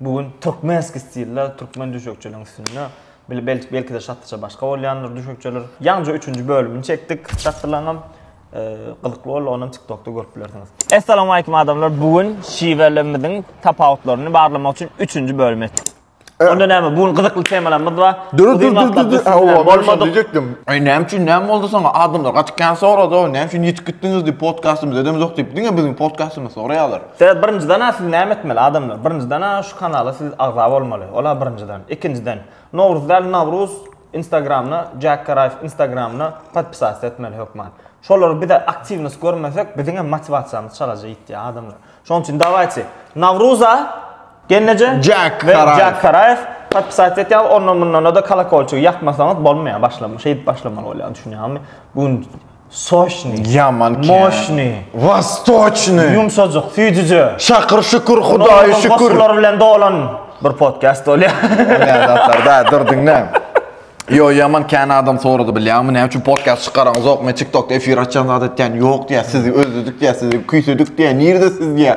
Bu gün türkmenski stilde türkmen düşekçiligiň üstünde bile bel belkide şatlyja başga bolýandyr düşekçiler. Ýaňja üçünji bölümini çekdik şatlylaňam. Gyzykly boldy onam TikTokda görüp bilersiňiz. Essalamu aleýkum adamlar. Bu gün şiwelerimiziň tapawutlaryny barlamak üçin üçünji bölüm etdik. Onda näme? Bu gün gyzykly temalarymyz bar. Dur dur dur dur dur. Hawa, bolmadyk diýjekdim. Aý näme üçin näme boldy soňa? Adamlar gaty kän sorady o. Näme üçin ýitip gitdiňiz diýip podkastymyz edemizok diýip diňe biziň podkastymyzy soraýarlar. Sebäbi birinjiden-ä siz näme etmeli, adamlar? Birinjiden-ä şu kanala siz agza bolmaly. Ol-a birinjiden. Ikinjiden, Nowruz däl, Nawruz Instagramyna, Jack Garaýew Instagramyna podpisatsa etmeli hökman. Şolary biz-ä aktiwnost görmesek, biziňem motiwasiýamyz çalaja ýitýär, adamlar. Şonuň üçin dawaýçy, Nawruza, Genneje we Jack Garaýew podpisatsa etýäňiz, ondan-mundan-da kolokolçigi ýakmasaňyz bolmaýar. Başlam, şeýdip başlamaly bolýar, düşünýäňizmi? Bu gün Soşny. Ýaman kän. Moşny. Wastoçny. Ýumşajyk, süýjüje. Şakyr şükür, Hudaýa şükür. Goşgular bilen dolan bir podcast bolýar. Näme zatlar da, dur diňle. Ýo, ýaman kän adam sorady bilýäňmi, näme üçin podcast çykaraňyzokmy, TikTokda efir açýan zat etýän ýok diýýär, sizi özledik diýýär, sizi küýsedik diýýär, nirde siz diýýär.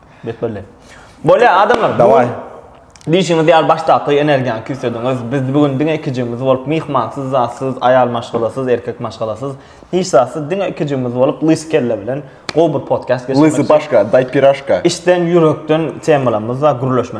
Betbelli. Bolýa adamlar. Daway. Diýşiňiz ýaly başdaky energiýany küýsediňiz. Biz bu gün diňe ikijigimiz bolup myhmansyz zatsyz aýal maşgalasyz erkek maşgalasyz hiç zatsyz diňe ikijigimiz bolup lys kelle bilen gowy bir podcast geçirmek. Lysy başka, daý piraşka. Içden ýürekden temalarymyz bar gürleşme.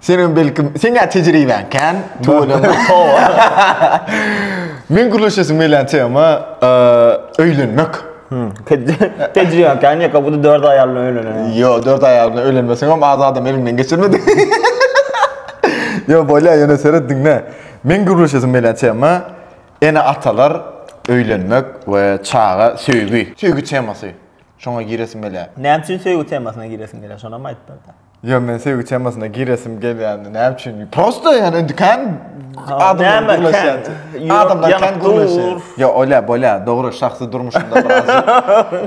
Senem belkim, seňä tejribäň kän, tüweleme. Meň gürleşesim gelýän tema, öýlenmek. Tejribäň kän ýa-da bu dört aýal bilen öýleneniň? Ýok, dört aýal bilen öýlenmeseňem az adam eliňden geçirmedi. Ýok, bolýar, ýöne seret, diňle. Meň gürleşesim gelýän tema, ene-atalar, öýlenmek we çaga, söýgi. Söýgi temasy. Şoňa giresim gelýär. Näme üçin söýgi temasyna giresiň gelýär, şonam aýdyp ber-de. Ýo men söýgi temasyna giresim gelýändi näme üçin prosta ýa indi kän adamlar gürleşýän adamlar kän gürleşýän ýo olýa bolýa dogry şahsy durmuşymda birazjyk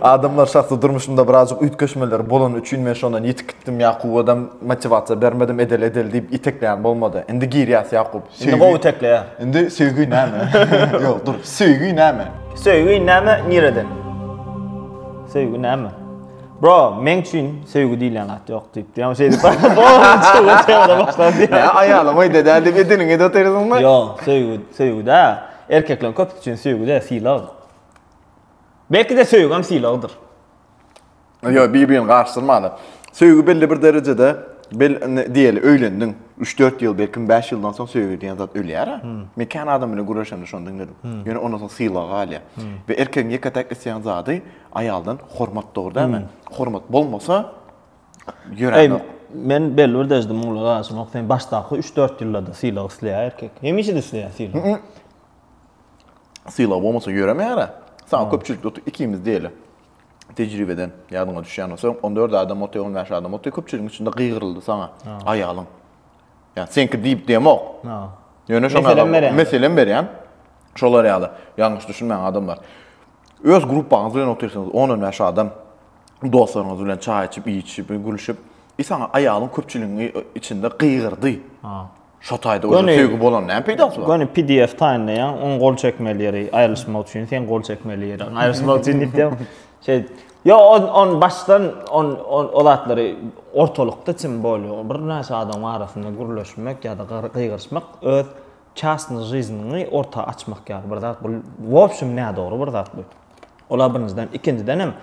adamlar şahsy durmuşymda birazjyk üýtgeşmeler bolany üçin men şondan ýitip gitdim ýakuwadam motiwasiýa bermedim edeli edeli diýip itekleýän bolmady indi girýäs ýakup indi gowy itekleýä indi söýgi näme ýo dur söýgi näme söýgi näme nireden söýgi näme. Bro, men üçin söýgi diýilýän zat ýok diýip. Ýa şeýdip. Ýa aýalym öýde däl diýip ediniňe de oturýarsyňmy? Ýok, söýgi, söýgüdä. Erkekleriň köpüsi üçin söýgüdä sylag. Belki-de söýgem sylagdyr. Ýok, bir-birini garyşdyrmaly. Söýgi belli bir derejede bel diýeli öýlendiň. Üç-dört ýyl, belki bäş ýyldan soň söýgi diýen zat ölýär-ä. Men kän adam bilen gürleşemde şony diňledim. Ýöne ondan soň sylag galýar. We erkegiň ýeke-täk isleýän zady Aýaldan hormat dogry dälmi? Hormat bolmasa ýörenok. Men belli bir derejede muňa garaşanok. Sen başdaky 3-4 ýylda-da sylag isleýär erkek. Hemişe-de isleýär sylag. Sylag bolmasa ýöremeýär-ä. Saňa köpçülikde oturyp ikimiz diýeli. Tejribeden ýadyňa düşýän bolsa, on dört adam otyr, on bäş adam otyr, köpçüligiň içinde gygyryldy saňa aýalyň. Ýa seňki diýip diýemok. Ýöne şoňa meselem berýän. Meselem berýän. Şolar ýaly ýalňyş düşünmäň adamlar. Öz gruppaňyz bilen otyrsyňyz, on on bäş adam, dostlaryňyz bilen çaý içip, iýişip, gülüşip, i saňa aýalyň köpçüligiň içinde gygyrdy. Ha. Şo taýda özi söýgi bolan näme peýdasy bar? Göni pdf taýynlaýaň, oň gol çekmeli ýeri aýrylyşmak üçin, sen gol çekmeli ýeri aýrylyşmak üçin diýipdim. Şeý. Yo, on on başdan on on o zatlary ortalykda çim bolýar. Bir näçe adamyň arasynda gürleşmek ýa-da gygyryşmak öz Çastny žizniňi orta açmak ýaly bir zat bu wobşem nädogry bir zat bu. Ola birinjiden ikinjidenem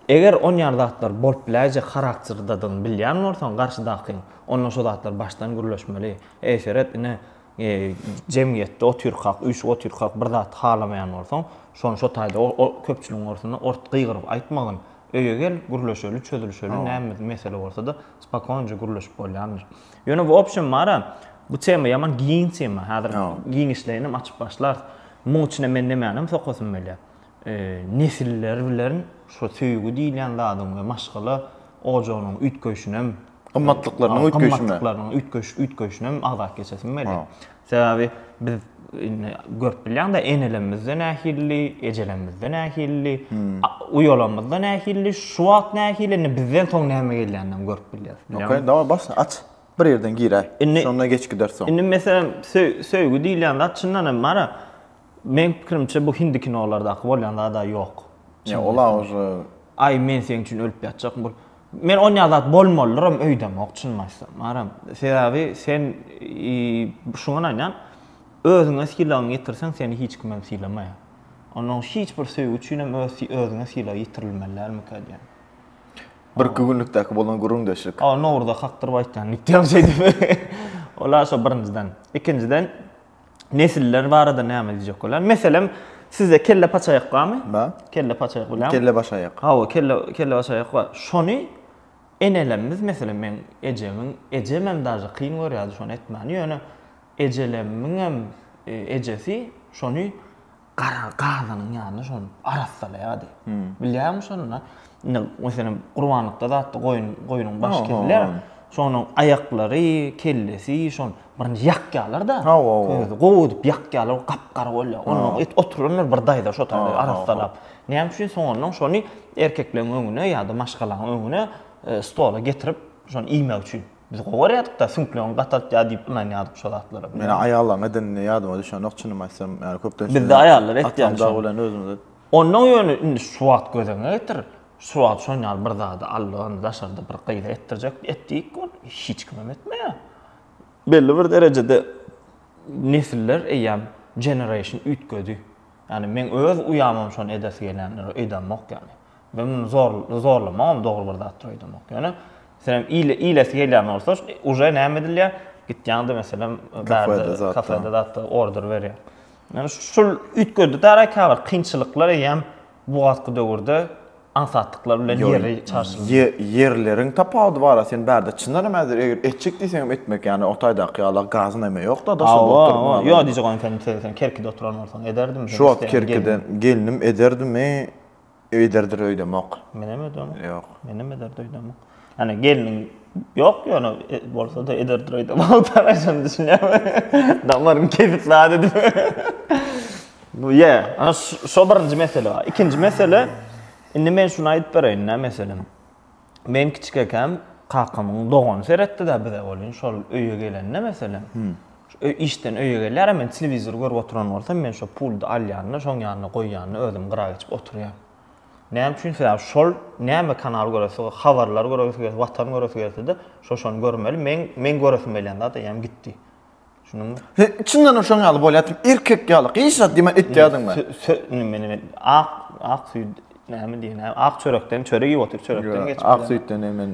eger on ýaly zatlar bolup biläýjek harakterdadygyny bilýän bolsaň garşydakyň onda şo zatlar başdan gürleşmeli eşeret ine e, jemgyýetde otyrkak üýşüp otyrkak bir zat halamaýan bolsaň şony şo taýda o köpçüligiň orsunda ort gygyryp aýtmagyn öýe gel gürleşeli çözülişeli näme mesele bolsada spokonyja gürleşip bolýandyr. Ýöne bu opşem mara bu tema ýaman giň tema. Häzir giňişleýinem açyp başlar. Muň içine men nämänem sokasym gelýär. Nesiller bilen şu söýgi diýilýän zadyň we maşgala ojagynyň üýtgeýşinem, gymmatlyklarynyň üýtgeýşinem, üýtgeýşinem agzap geçesim gelýär. Sebäbi biz indi görüp bilýäň-de, enelerimiz-de nähilidi, ejelerimiz-de nähilidi, uýalarymyz-da nähilidi, şu wagt nähili, indi bizden soň näme gelýänini hem görüp bilýäris. Okey, daway, başla, aç. Bir ýerden gir-ä. Indi- Şonda geç gider soň. Indi, meselem, söý- söýgi diýilýän zat, çyndan hem, mana, Meň pikirimçe bu hindi kinolardaky bolýan zada ýok. Ýa ola ože. Aý men seň üçin ölüp ýatjakm bul. Men onýa zat bolmalydyram öýdemok çynymy aýtsam. Baram. Sebäbi sen şuňan aýdýan özüňe sylagyňy ýitirseň seni hiç kimem sylamaýar. Onda hiç bir söýgi üçinem öz özüňe sylag ýitirilmeli dälmikä diýýän. Bir iki günlükdäki bolan gürrüňdeşlik. Aw nowruza kakdyryp aýtýan gitýän şeýdip. Ola şo birinjiden. Ikinjiden Nesiller barada näme diýjek bolýan? Meselem, sizde kelle paçaýak barmy? Bar. Kelle paçaýak bolýarmy? Kelle baş aýak. Hawa, kelle kelle baş aýak bar. Şony enelerimiz meselem men ejemiň, ejem hem daže kyn görýärdi şony etmäni, ýöne ejelerimiň hem e, ejesi şony gara gazynyň ýanyny şol arassalaýardy. Bilýäňmi şony? Indi, meselem, gurbanlykda zatda goýun, goýnuň başy kesilýär. Şonuň aýaklary, kellesi, şony birinji ýakýarlar-da. Közi gowy edip ýakýarlar, gap-gara bolýar. Ondan et oturanlar bir daýza şo taýda arassalap. Näme üçin? Soňundan şony erkekleriň öňüne ýa-da maşgalaň öňüne stola getirip, şony iýmek üçin. Biz gowy görýärdik-dä, süňklerini gataltýar diýip ynanýardyk şo zatlara. Meniň aýallaryň edenini ýadyma düşenok çynymy aýtsam, ýagny köplenç. Bizde aýallar etýär şony. Atamdag bilen özümiz. Onnoň ýöne indi şu wagt göz öňüňe getir, şu wagt şon ýaly bir zady Allan daşarda bir gyza etdirjek et diýik ol hiç kimem etmeýär. Belli bir derejede nesiller eýýäm generation üýtgedi. Ýagny meň öz uýamam şony edesi gelýändir öýdemok ýagny. Men muny zor zorlamagam dogry bir zatdyr öýdemok. Ýöne senem ile ilesi gelýän bolsa uje näme edilýä gitýäňde meselem bärde kafede zatda order berýä. Ýöne şul üýtgedidara käbir kynçylyklar eýýäm bu wagtky döwürde aňsatlyklary bilen ýeri çarşyldy. Ýe, ýerleriň tapawudy bar-a, sen bärde çyndanam häzir eger etjek diýseňem etmek, ýagny o taýdaky ýala gaz näme ýok-da, daşynda Hawa, oturyp hawa, ýok maňa. diýjek ony sen se, sen Kerkide oturan bolsaň ederdim sen Şu wagt isteýän gelniň. Kerkiden gelnim ederdimi, ederdir öýdemok. Menem öýdemok. Ýok. Menem ederdi öýdemok. Hani gelinin yok ya ona e, bolsa da eder duraydı. Mavtara şunu düşünüyorum. Damarım kesip la dedim. Bu ya. Ana şu birinci mesele. İkinci mesele. Şimdi men şunu ayıp bereyim ne mesele. Men küçük ekem kakamın doğan seretti de bize olun. Şol öye gelen ne mesele. Hmm. işden öýe gelýär, men telewizor görüp oturan bolsam, men şu puldy alýanny, şoň ýanyna goýýanny özüm gyra geçip oturýan. Näme üçin sebäbi şol näme kanal göresi habarlar göresi geldi watan göresi gelsede şo şony görmeli men men göresim gelýän zat eýýäm gitdi şunuňmy he çyndanam şoň ýaly bolýar erkek ýaly gyz zat diýme etýärdiňmi men men ak ak süýt näme diýen ak çörekden çörek iýip otyr çörekden geçip ak süýtden men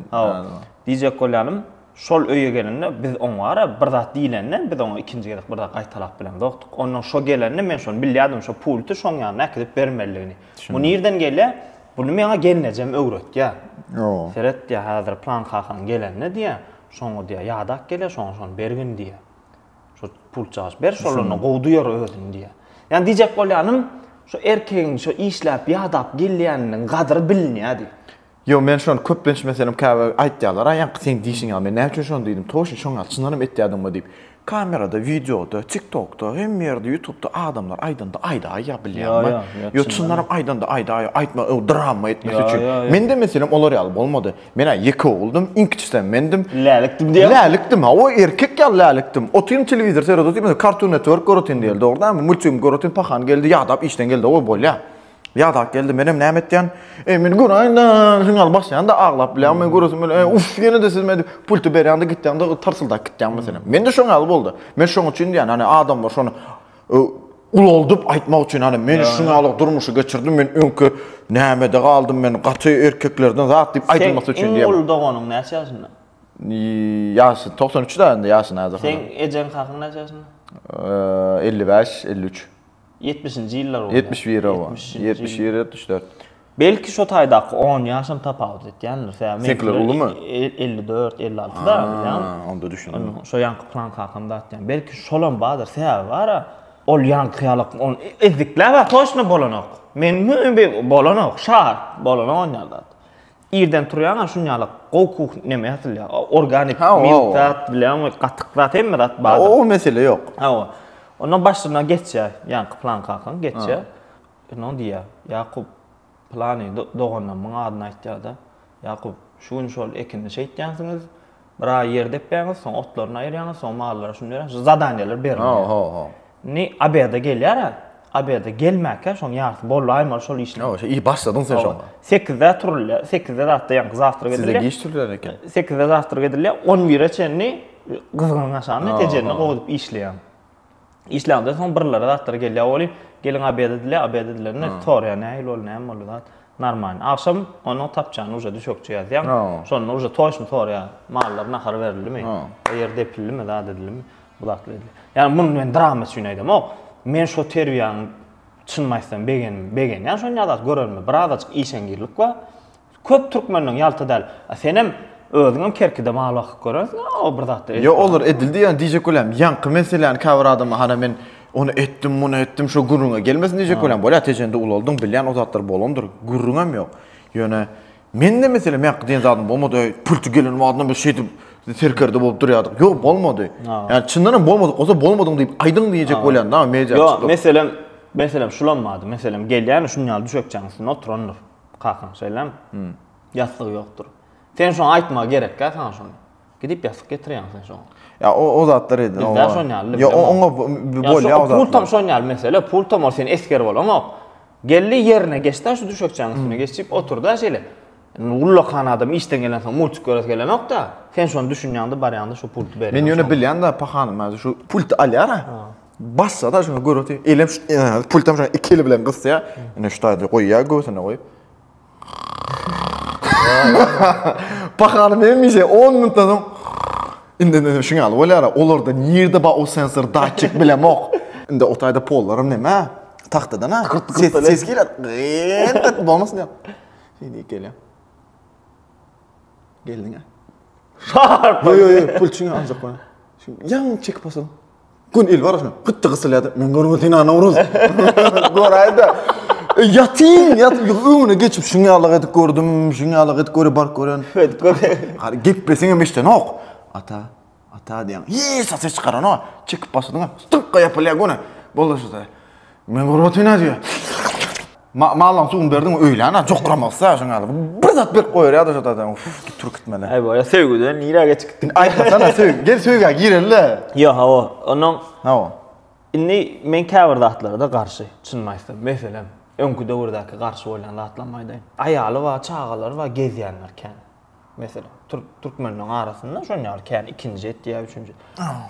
diýjek bolýanym Şol öýe gelende biz oňara bir zat diýlende, biz oňa ikinji gezek bir zat gaýtalap bilemzokdyk. Ondan şo gelende men şony bilýärdim, şo pulty şoň ýanyna äkidip bermelidigini. Bu nirden gelýä? Buny meňa gelnejem öwretýä. Seret diýä, häzir plan kakaň gelende diýä, şoňa diýä ýadak gelýä, şoňa şony bergin diýä. Şo pultjagaç ber, şolanda gowy duýar özüni diýä. Ýani diýjek bolýanym, şo erkegiň şo işläp, ýadap gelýäniniň gadyry bilinýä diýip. Ýok, men şony köplenç, meselem, käbir aýtýarlar, Aý, ýaňky seň diýşiň ýaly, men näme üçin şony diýdim, toýşy, şoň ýaly, çyndanam etýärdiňmi diýip. Kamerada, wideoda, tiktokda, hemme ýerde, ýutubda adamlar aýdanda aýdaýýa bilýäňmi? Ýok, çyndanam aýdanda aýdaýýa, aýtma, ol drama etmesi üçin. Mende, meselem, olar ýaly bolmady. Men-ä ýeke oguldym, iň kiçisem mendim. Lälikdim diýýäňmi? Lälikdim, hawa, erkek ýaly lälikdim. Otyryn, telewizor seredip otyryn, Cartoon Network göretin geldi, dogrudanmy, multigim göretin, pahany geldi, ýadap işden geldi, oý, bolýa. Ýadak geldi, menem näme etýän? E, meni göräýin-de, sen al başlaýan-da aglap bilýän, men göresim gelýär. E, uf, ýene-de siz men pulty berýän-de gitýäň-de, tarsyldak gitýäň meselem. Mende şoň ýaly boldy. Men şoň üçin diýýän, hani adamlar şony e, ulaldyp aýtmak üçin, hani men şuň ýaly durmuşy geçirdim, men öňki nämede galdym, men gaty erkeklerden zat diýip aýdylmasy üçin diýýän. Sen iň uly doganyň näçe ýaşynda? Ýaşy 93-de indi ýaşy näzir. Seň ejeň-kakyň näçe ýaşynda? 55, 53. Ýetmişinji ýyllar bolýar. Ýetmiş bir, hawa. Ýetmişinji ýyl. Ýetmiş bir, ýetmiş dört. Belki şo taýdaky on ýaşam tapawut etýändir, sebäbi Seňkiler meňkiler ulumy? e- e- elli dört, elli altyda, bilýäňmi? Ha, onda düşündim. Onuň şo ýaňky plan kakamda aýtýan. Belki şolam bardyr, sebäbi bar-a. Ol ýaňky ýaly on ezdikler bar, toçno bolanok. Meniňem bir bolanok, şa, bolanok onýa zat. Irden turýaň a şun ýaly gowy kuh neme atylýar. Organik Ha, owa, milt owa. zat bilen we gatyk zat hemme zat bar. O o mesele ýok. Hawa. Ondan başyna geçýär ýaňky plan kakan geçýär. Ondan diýýär, Ýakup, plany do- doganlarymyň adyny aýtýar-da. Ýakup, şu gün şol ekini şeýtýänsiňiz, Bir aý ýer depýäňiz, soň otlaryny aýyrýaňyz, soň mallara şuny berýäňiz. Şu zadaniýalar berilýär. Ho, ho, ho. Ni obeda gelýär-ä. Obeda gelmäkä şoň ýarysy bollaýmaly şol işler. Ýa, şo iş başladyň sen şoň. Sekizde turulýar. Sekizde zatda ýaňky zawtrak edilýär. Sizde giç turulýar eken. Sekizde zawtrak edilýär. On bire çenli gyzgynyň aşagynda, ejeňde gowy edip işleýäň. Işlänimden soň birlere zatlar gelýär welin, geliň obed edilýär, obed edilende soraýar, nähili boldy, näme boldy zat? Normalny. Agşam onuň tapjany uje düşekçe ýazýaň. Şonda uje toýşny soraýar, mallar nahar berildimi, ýer depildimi, zat edildimi, bu zatlar edilýär. Ýagny muny men drama üçin aýdamok. Men şo terbiýäni çynymy aýtsam begendim, begenýän şonda zat görenime, birazajyk işeňňirlik bar. Köp türkmeniň ýalta däl. A senem özüňem kerkide maly bakyp görersiň-a o bir zatlar edip. Ýok olar edildi ýa diýjek bolýan ýaňky meseläni käbir adamlar hana men ony etdim muny etdim şo gürrüňe gelmesin diýjek bolýan bolýa tejende ulaldyň bilýän o zatlar bolandyr gürrüňem ýok ýöne mende meselem ýaňky diýen zadym bolmady öý pulty gelen badyna biz şeýdip serkerde bolup durýardyk ýok bolmady ýa çyndanam bolmadyk bolsa bolmadyň diýip aýdyň diýjek bolýan da media ýok meselem meselem şulam bady meselem gelýän şunýaly düşekçäň üstünde oturandyr Kakam, şeýlemi? Hum. Ýassygy ýokdur. Sen şoňa aýtmagy gerekkä saňa şony? Gidip ýassyk getirýäňmi sen şoňa? Ýa o o zatlar edil. Bizde şon ýaly. Ýa oňa bolýa o zatlar. Pul tam şon ýaly mesele. Pul tam ol sen esger bolaňok. Geldi ýerine geçdi şu düşekçäniň üstüne geçip oturda şeýle. Ullakan adam işden gelen soň multik göresi gelenokda. Sen şony düşünýäňde barýaňda şu pulty berýäň. Men ýöne bilýän-de pahanym şu pulty alýar-a. Bassa da şuna görüp, elem şu pultam şuna iki eli bilen gysya. Ine şu taýda goýýar göwsüne goýup. Pakany memişe 10 minutdan soň indi ne şuňa alyp bolýar. Olarda nirde ba o sensor datçik bilen ok. Indi o taýda pollarym näme? Tagtadan ha. Ses ses gelýär. Gyndyk bolmasyn diýip. Şeýdi gelýär. Geldiňä. Şart. Yo yo yo pul çiňe aljak bana. Şu yan çekip basam. Gün il barasyn. Gitdi gysylýady. Men görme seni Nawruz. Göräýdi. E, ýatyn, ýatyn öňüne geçip şuň ýalyk edip gördüm, şuň ýalyk edip göre bark gören. Edip göre. Hadi geplesiň hem eşdenok. Ata, ata diýen. Hiç ses çykaranok. Çekip başladyň. Stykga ýapylýar göne. Bollaşdy. Men gurbaty ne diyor? Ma mallan suwun berdim öýlän ha jokramak isle şoň ýaly. Bir zat berip goýar ýa-da şo zaten uf git tur gitmeli. Aý boýa söýgüden nirä geçip gitdik. Aýtmasana söýgi. Gel söýgä girelle. Ýa ha o. Ondan Ha o. Indi men käbir zatlarda garşy çynymy aýtsam. Meselem, öňki döwürdäki garşy bolýan zatlarymy aýdaýyn. Aýaly bar, çagalary bar, gezýänler kän. Meselem, türk türkmenleriň arasynda şoň ýaly kän ikinji et ýa üçünji.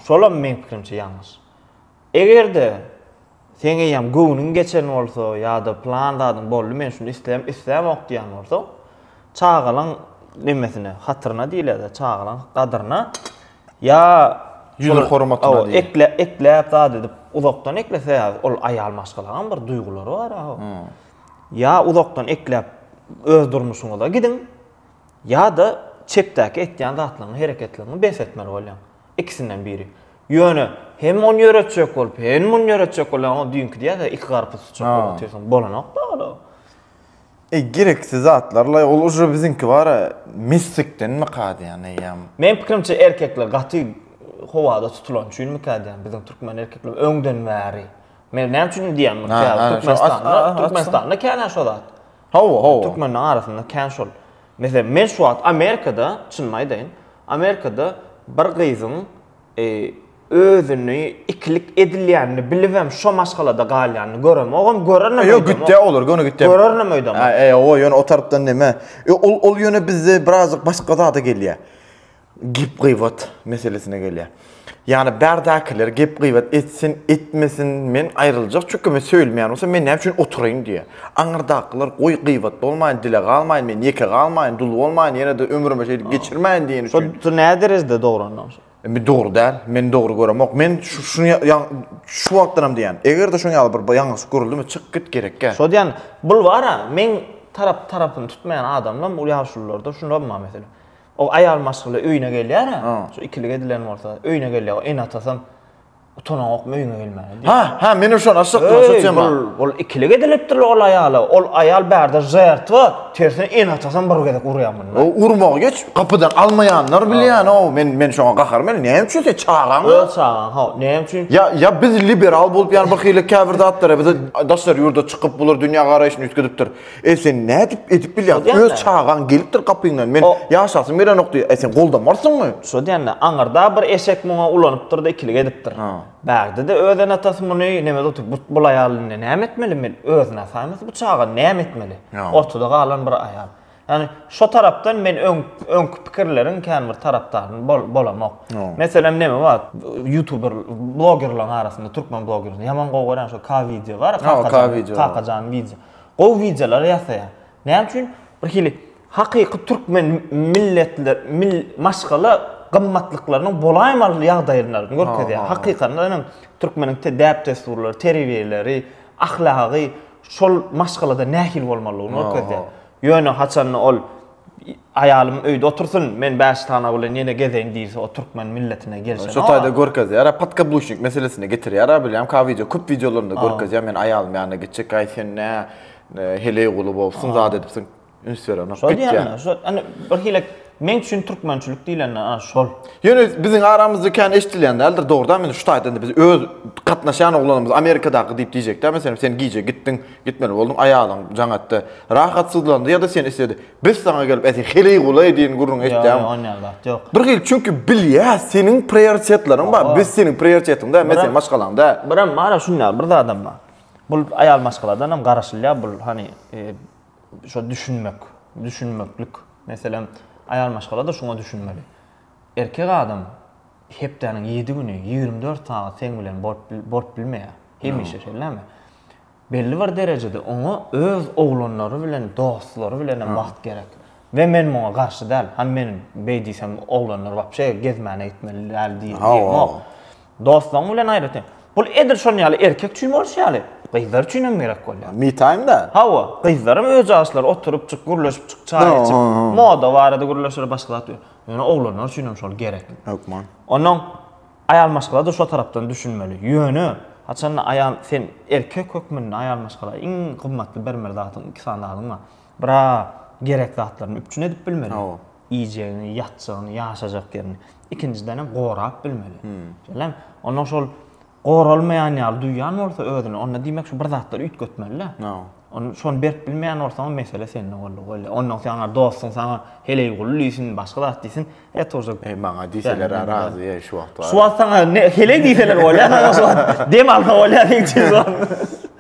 Şolam meň pikirimçe ýalňyş. Eger-de seň eýýäm göwnüň geçen bolsa ýa-da plan zadyň boldy, men şuny isleýän, islämok diýýän bolsaň, çagalaň nemesine, hatyryna diýilýär-dä, çagalaň gadyryna ýa ýüzühormatyna diýýär. Ekle, ekläp zat edip uzakdan ekle, sebäbi ol aýal maşgalanyň bir duýgulary bar aho. Ýa uzakdan ekläp öz durmuşyňyza gidiň, ýa-da çepdäki etýän zatlaryňy, hereketleriňi bes etmeli bolýaň. Ikisinden biri. Ýöne hem ony ýöretjek bolup, hem muny ýöretjek bolýan o düýnki diýýär-de, iki garpyz tutjak Ha. bolup otursaň, bolanok-da ol. Eý, gereksiz zatlar-laý, ol uje biziňki bar-a, mistikdenmikä diýýän eýýäm. Meň pikirimçe, erkekler gaty howada tutulan üçinmikä diýýän, biziň türkmen erkekler öňden bäri. Men näme üçin diýýän muny, Ha, ha, şo as- a- a- Türkmenistanda, Türkmenistanda kän-ä şo zat. Hawa, hawa. Türkmenleriň arasynda kän şol. Meselem, men şu wagt Amerikada, çynymy aýdaýyn, Amerikada bir gyzyň özüni ikilik edilýänini bilibem şo maşgalada galýanyny göremok, ogam görenem öýdemok. Ýok, gitýär olar, göni gitýär. Görenem öýdemok. Ýok, ýöne o tarapdan näme? Ol ýöne bizde birazajyk başga zada gelýär. Gep-gybat meselesine gelýär. Ýagny bärdäkiler gep-gybat etsin, etmesin, men aýryljak, çünki men söýülmeýän bolsam, men näme üçin oturaýyn diýýär. Aňyrdakylar goý gybat bolmaýyn, dile galmaýyn, men ýeke galmaýyn, dul bolmaýyn, ýene-de ömrümi şeýdip geçirmäýin diýen üçin. Şo nä derejede dogry onda onsoň? Indi dogry däl, men dogry göremok. Men şuny şu wagtdan hem diýýän, eger-de şuň ýaly bir ýalňyşlyk görüldimi, çyk git gerekkä. Şo diýýän, bulwara meň tarap tarapyny tutmaýan adamlar bu ýaşulularda şular bar meselem. O aýal maşgala öýüne gelýär-ä, şu ikilik edilen bolsa, öýüne gelýär, o ene-atasam utananokmy öýüňe gelmäge diýip. Ha, ha, menem şony aşjakdym, şu tema. Öý, bul ikilik edilipdir-le ol aýala, ol aýal bärde žertwa, tersine ene-atasam bir gezek urýar muny. O urmagy geç, gapydan almaýanlar bile ýany-ow, men, men şoňa gaharym gelýär, näme üçin sen çagaň-a? Öz çagaň, haw, näme üçin? Ýa, ýa biz liberal bolup ýany birhili käbir zatlara bize daşary ýurda çykyp, bular dünýä garaýşyny üýtgedipdir. E sen nädip edip bilýäň? Öz çagaň gelipdir gapyňdan, men ýaşasym gelenok diýýär. E sen goldamarsyňmy? Şo diýende, aňyrda bir eşek muňa ulanypdyr-da, ikilik edipdir. Bägdi-de öz ene-atasy muny neme zat edip, bul aýal indi näme etmeli, men özüni asaýmasam, bu çaga näme etmeli? Ortada galan bir aýal. Ýagny, şo tarapdan men öň, öňki pikirleriň kän bir tarapdaryny bolamok. Meselem, neme bar, ýutuber, blogerlaryň arasynda, türkmen blogerlaryň, ýaman gowy görýän şo K-wideo bar, Kakajan, Kakajan wideo. Gowy wideolar ýasaýar. Näme üçin bir hili hakyky türkmen milletler maşgala gymmatlyklarynyň bolaýmaly ýagdaýlaryny görkezýär. Hakykatdan hem türkmeniň däp-dessurlary, terbiýeleri, ahlagy şol maşgalada nähili bolmalydygyny görkezýär. Ýöne haçanda ol Aýalym öýde otursyn, men Bäştana bilen ýene gezeýin diýse, o türkmen milletine gelşenok. Şo taýda görkezýär-ä, podkabluşnik meselesine getirýär-ä, bilýän ka wideo, köp wideolarynda görkezýär, men aýalym ýanyna gitjek, aý sen nä heleýguly bolupsyň, zat edipsiň, üns berenok, gitýär. Şo diýemde, şo ine bir hile meň üçin türkmençilik diýlende ana şol. Ýöne biziň aramyzda kän eşdilýän däldir, dogry däl, men şu taýdan-da biz öz gatnaşýan oglanymyz Amerikadaky diýip diýjek däl, meselem sen gije gitdiň, Gitmeli bolduň aýalyň jaňatda rahatsyzlandy ýa-da seni isledi. Biz saňa gelip äti heleý gulaý diýen gürrüňi eşitýäňmi? Ýok, onýan zat ýok. Bir hili çünki bilýäs seniň prioritetleriň bar. Biz seniň prioritetyň däl, men seniň maşgalaň däl. Birem bar-a şunýaly bir zadam bar. Bul aýal maşgaladan hem garaşylýar bul hany şo düşünmek, düşünmeklik. Meselem aýal maşgala-da şuňa düşünmeli. Erkek adam. Hepdäniň ýedi güni ýigrimi dört sagat seň bilen bolup bilmeýär. Hemişe şeýle näme? Belli bir derejede oňa öz oglanlary bilen, dostlary bilenem wagt gerek. We men muňa garşy däl. Hany men beý diýsem oglanlar wapşe gezmäne gitmeli däl diýemok. Dostlaryň bilen aýratyn. Bul edil şonuň ýaly erkek üçin bolşy ýaly, gyzlar üçin hem gerek bolýar. Me time da. Hawa, gyzlar hem öz jaşlary oturypjyk, gürleşipjik, çaý içip, moda barada gürleşer, başga zat. Ýöne oglanlar üçin hem şol gerek. Hökman. Onnoň aýal maşgala-da şo tarapdan düşünmeli. Ýöne, haçanda aýal, sen erkek hökmünde aýal maşgala iň gymmatly bermeli zadyň iki sany zadyň bar. Bir-ä gerek zatlaryny üpjün edip bilmeli. Hawa. Iýjegini, ýatjagyny, ýaşajak ýerini. Ikinjiden hem gorap bilmeli. Şeýlemi? Onnoň şol goralmaýan ýaly duýýan bolsa özüni, onda diýmek şu bir zatlar üýtgetmeli-dä. Ony şony berip bilmeýän bolsaňam mesele sende boldy goý. Ondan saňa dostuň saňa Heleýguly diýsin, başga zat diýsin, et uje. Eý maňa diýseler-ä razy eý şu wagt. Şu wagt saňa ne Heleý diýseler bolýa saňa şu wagt. Dem alsa bolýa seň üçin şu wagt.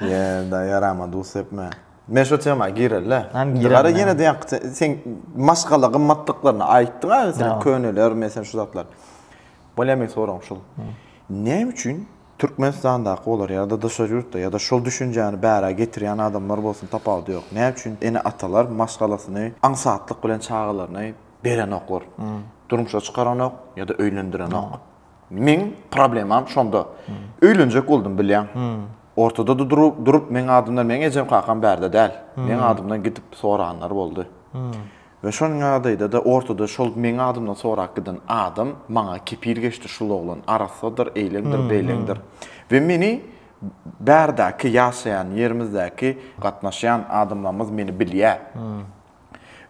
Ýa-da ýarama duz sepme. Men şo tema gireli-dä. Indi gara ýene-de ýaňky sen maşgala gymmatlyklaryny aýtdyň-a, meselem köneler, meselem şu zatlar. Bu ne men soragym şul. Näme üçin Türkmenistandaky bolar ýa-da daşary ýurtda ýa-da şol düşünjäni bärä getirýän adamlar bolsun tapawudy ýok. Näme üçin ene-atalar maşgalasyny aňsatlyk bilen çagalaryny berenoklar. Durmuşa çykaranok ýa-da öýlendirenok. Meň problemam şonda. Öýlenjek boldum bilýäň. Ortada da durup meň adymdan meň ejem kakam bärde däl. Meň adymdan gidip soranlar boldy. We şol ýagdaýda-da ortada şol meň adymdan sorap giden adam maňa kepil geçdi, şul oglan arassadyr, eýleňdir, beýleňdir. We meni bärdäki ýaşaýan ýerimizdäki gatnaşýan adamlarymyz meni bilýär.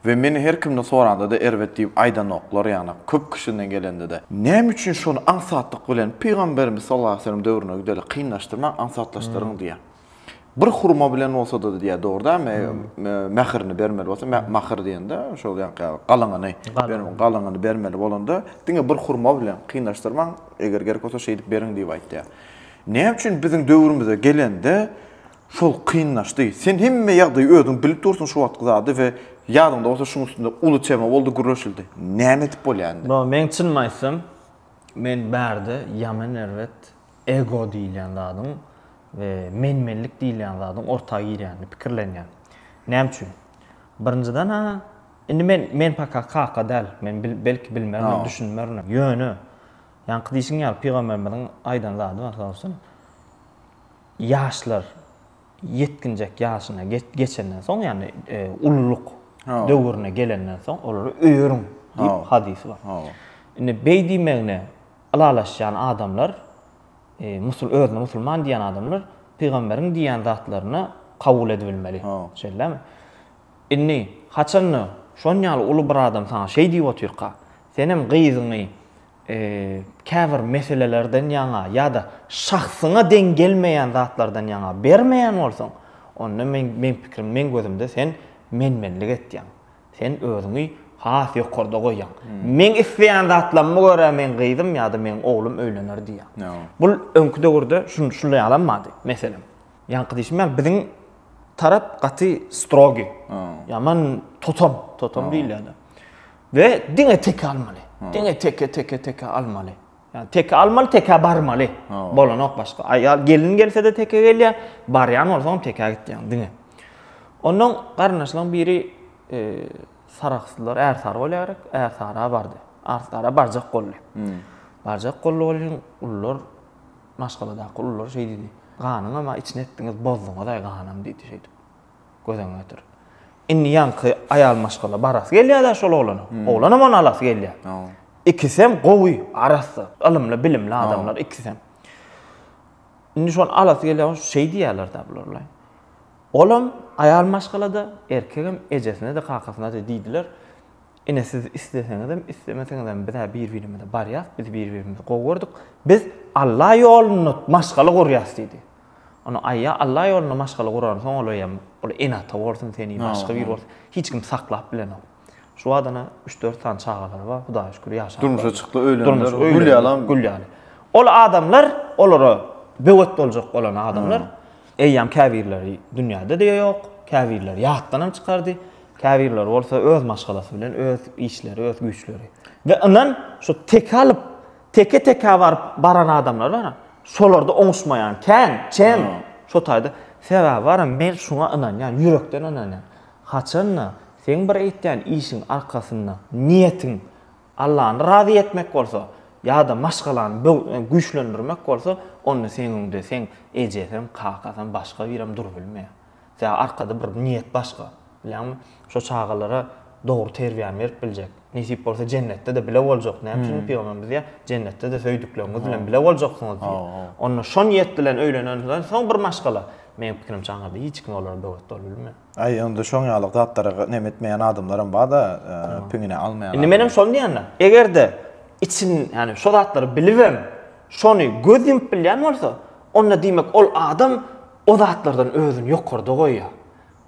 We meni her kimden soranda-da erbet diýip aýdanoklar, ýagny köp kişiden gelende-de. Näme üçin şony aňsatlyk bilen Pygamberimiz sallallahu aleýhi we sellem döwrüne gideli kynlaşdyrmaň, aňsatlaşdyryň diýýär. Bir hurma bilen bolsa-da diýýär, dogry däl mi? Mährini bermeli bolsa, mahyr diýende, şol ýaňky galyňyny, galyňyny bermeli bolanda, diňe bir hurma bilen kynlaşdyrmaň, eger gerek bolsa, şeýdip beriň diýip aýtýar. Näme üçin biziň döwrümize gelende şol kynlaşdy? Sen hemme ýagdaýy özüň bilip dursuň şu wagtky zady we ýadyňda bolsa şuň üstünde uly tema boldy, gürleşildi. Näme edip bolýar indi? Baba, meň çynymy aýtsam, men bärde ýaman erbet ego diýilýän zadyň we men-menlik diýilýän zadyň orta girýänini pikirlenýän. Näme üçin? Birinjiden-ä, indi men, men paka kaka däl, men bil, belki bilmerinem, düşünmerinem. Ýöne, ýaňky diýşiň ýaly pygamberimiziň aýdan zady bar, sag bolsun, ýaşlar ýetginjek ýaşyna ge, geçenden soň, ýagny e, ululyk döwrüne gelenden soň olary öýeriň diýip hadysy bar. Indi beý diýmegine, Ylalaşýan adamlar, musul özüne musulman diýýän adamlar pygamberiň diýýän zatlaryny kabul edibilmeli. Şeýdämi? Indi haçanda şonýaly uly bir adam saňa şeý diýip otyrka, senem gyzyňy käbir meselelerden ýaňa ýa-da şahsyňa deň gelmeýän zatlardan ýaňa bermeýän bolsaň, onda men men pikrim men gözümde sen men-menlik etýäň. Sen özüňi has ýokarda goýýaň. Meň isleýän zatlaryma görä meň gyzym ýa-da meň oglum öýlener diýýäň. Bul öňki döwürde şunday ýalam bardy. Meselem, ýaňky diýşim ýaly biziň tarap gaty strogi, ýaman totom, totom diýilýär-de. We diňe teke almaly. Diňe teke, teke, teke almaly. Ýa teke almaly, teke barmaly. Bolanok başga. Aýal gelin gelse-de teke gelýär, barýan bolsaň teke gitýäň diňe. Ondan garyndaşlaryň biri e, saraksdylar, ärsary bolýar gerek, ärsara bardy. Ärsara barjak boldy. Hmm. Barjak boldy bolýan ullar maşgaladaky ullar şeý diýdi. Ganyň ama içine etdiňiz, bozduňyz aý ganam diýdi şeýdip. Göz öňüne getir. Indi ýaňky aýal maşgala barasy gelýär-de şol oglana. Hmm. Oglanam ony alasy gelýär. Ikisem gowy, arassa, ylymly, bilimli adamlar ikisem. Indi şony alasy gelýär, şeý diýýärler-de bular. Olam aýal maşgalada, erkegem ejesine de kakasyna de diýdiler. Ine siz isleseňizem, islemeseňizem biz bir-birimize barýas, biz bir-birimizi gowy gördük. Biz Alla ýolunda maşgala gurýas diýdi. Ony aýa Alla ýolunda maşgala guransoň olaýam ol ene-ata bolsun seni başga bir bolsun hiç kim saklap bilenok. Şu badana üç-dört sany çagalary bar Hudaýa şükür ýaşap. Durmuşa çykdy öýlendiler gül ýalam. Gül ýaly. Ol adamlar olara böwet boljak bolan adamlar eýýam käbirleri dünýäde-de ýok, käbirleri ýatdanam çykardy, käbirleri bolsa öz maşgalasy bilen öz işleri öz güýçleri. We ynan şu teke alyp Teke-tekä baryp baran adamlar bar. Şolarda oňuşmaýan kän, çem. Şo taýda. Sebäbi baram men şuňa ynanýan, ýürekden ynanýan. Haçan-da, seň bir eýtýän işiň arkasynda niýetiň Allany razy etmek bolsa, ýa-da maşgalany böwsüňi güýçlendirmek bolsa, onda seň öňde seň ejesem, kakasam, başga birem durup bilmeýär. Sebäbi arkada bir niýet başga. Bilýäňmi? Şo çagalara dogry terbiýäni berip biljek. Nesip bolsa jennetde-de bile boljak. Näme üçin pygamberimiz diýýär, Jennetde-de söýdükleriňiz bilen bile boljaksyňyz diýýär. Onda şo niýet bilen öýlenenden soň bir maşgala, meň pikirimçe aňyrda hiç kim olara böwet bolup bilmez. Aý, onda şoň ýaly zatlara näme etmeýän adamlaram bar-da, piňine almaýan. Indi menem şony diýendim. Eger-de içiň, ýagny şo zatlary bilibem, şony göz ýumup bilýän bolsa, onda diýmek ol adam, O zatlardan özüni ýokarda goýýar.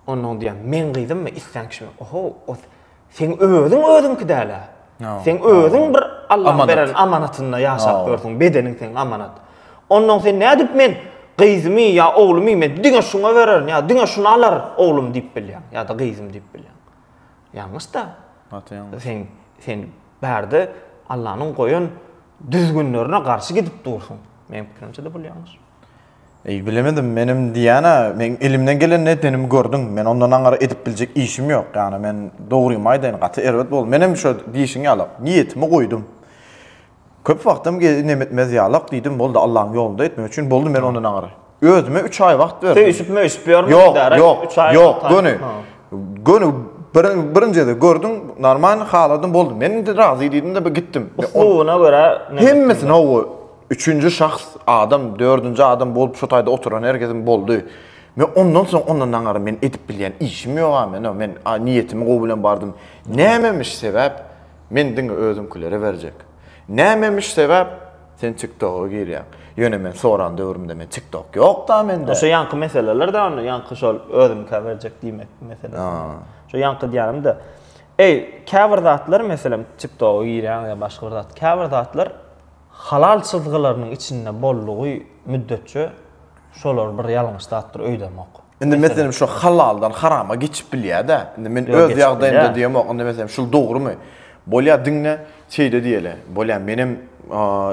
Onnoň diýýär, meň gyzymmy, islän kişimi, oho, o seň özüň özüňki däl-ä. Seň özüň bir Allaň beren amanatynda ýaşap ýörsüň, bedeniň seň amanat. Onnoň sen nädip men gyzymy ýa oglumy men diňe şuňa bererin ýa diňe şuny alar oglum diýip bilýäň ýa-da gyzym diýip bilýäň. Ýalňyş-da. Gaty ýalňyş. Sen, sen bärde Allanyň goýan düzgünlerine garşy gidip dursuň. Meň pikirimçe-de bul ýalňyş. Eý, bilemedim, menem diýýän-ä, meň elimden gelenini edenim gördüň. Men ondan aňyr edip biljek işim ýok. Ýagny men, dogrymy aýdaýyn, gaty erbet boldy. Menem şo diýşiň ýalak, niýetimi goýdum. Köp wagtam ge nem etmez ýalak diýdim, boldy, Allaň ýolunda etmek üçin, boldy, men ondan aňyr. Özüme üç aý wagt berdim. Söýşüp-möýşüp ýörmüň indi, ara, Ýok, üç aý? ýok, ýok, göni. Göni bir, birinjide gördüm, normalny haladym, boldy, men indi razy diýdim-de, bir gitdim. Uslubyna görä, ne? Hemmesini, hawa, Üçünji şahs, adam, dördünji adam bolup şu taýda oturan herkesiň boldy. Men ondan soň ondan daňary men edip bilýän işim ýog-a men-a, men niýetimi gowy bilen bardym. Nämemiş sebäp, men diňe özüňkilere berjek. Nämemiş sebäp, sen TikTok-a girýäň. Ýöne men soran döwrümde men TikTok ýok-da mende. Şo ýaňky meseleler-dä onda, ýaňky şol özüňkä berjek diýmek meselesinde. Şo ýaňky diýýänim-de, eý, käbir zatlar, meselem, TikTok-a girýäň ýa başga bir zat, käbir zatlar Halal çyzgylarynyň içinde boldugy müddetçe şolar bir ýalňyş zatdyr öýdemok. Indi meselem şu halaldan harama geçip bilýädä. Indi men öz ýagdaýymda diýemok. Indi meselem şul dogrymy? Bolýa diňe şeýle diýeli. Bolýa menem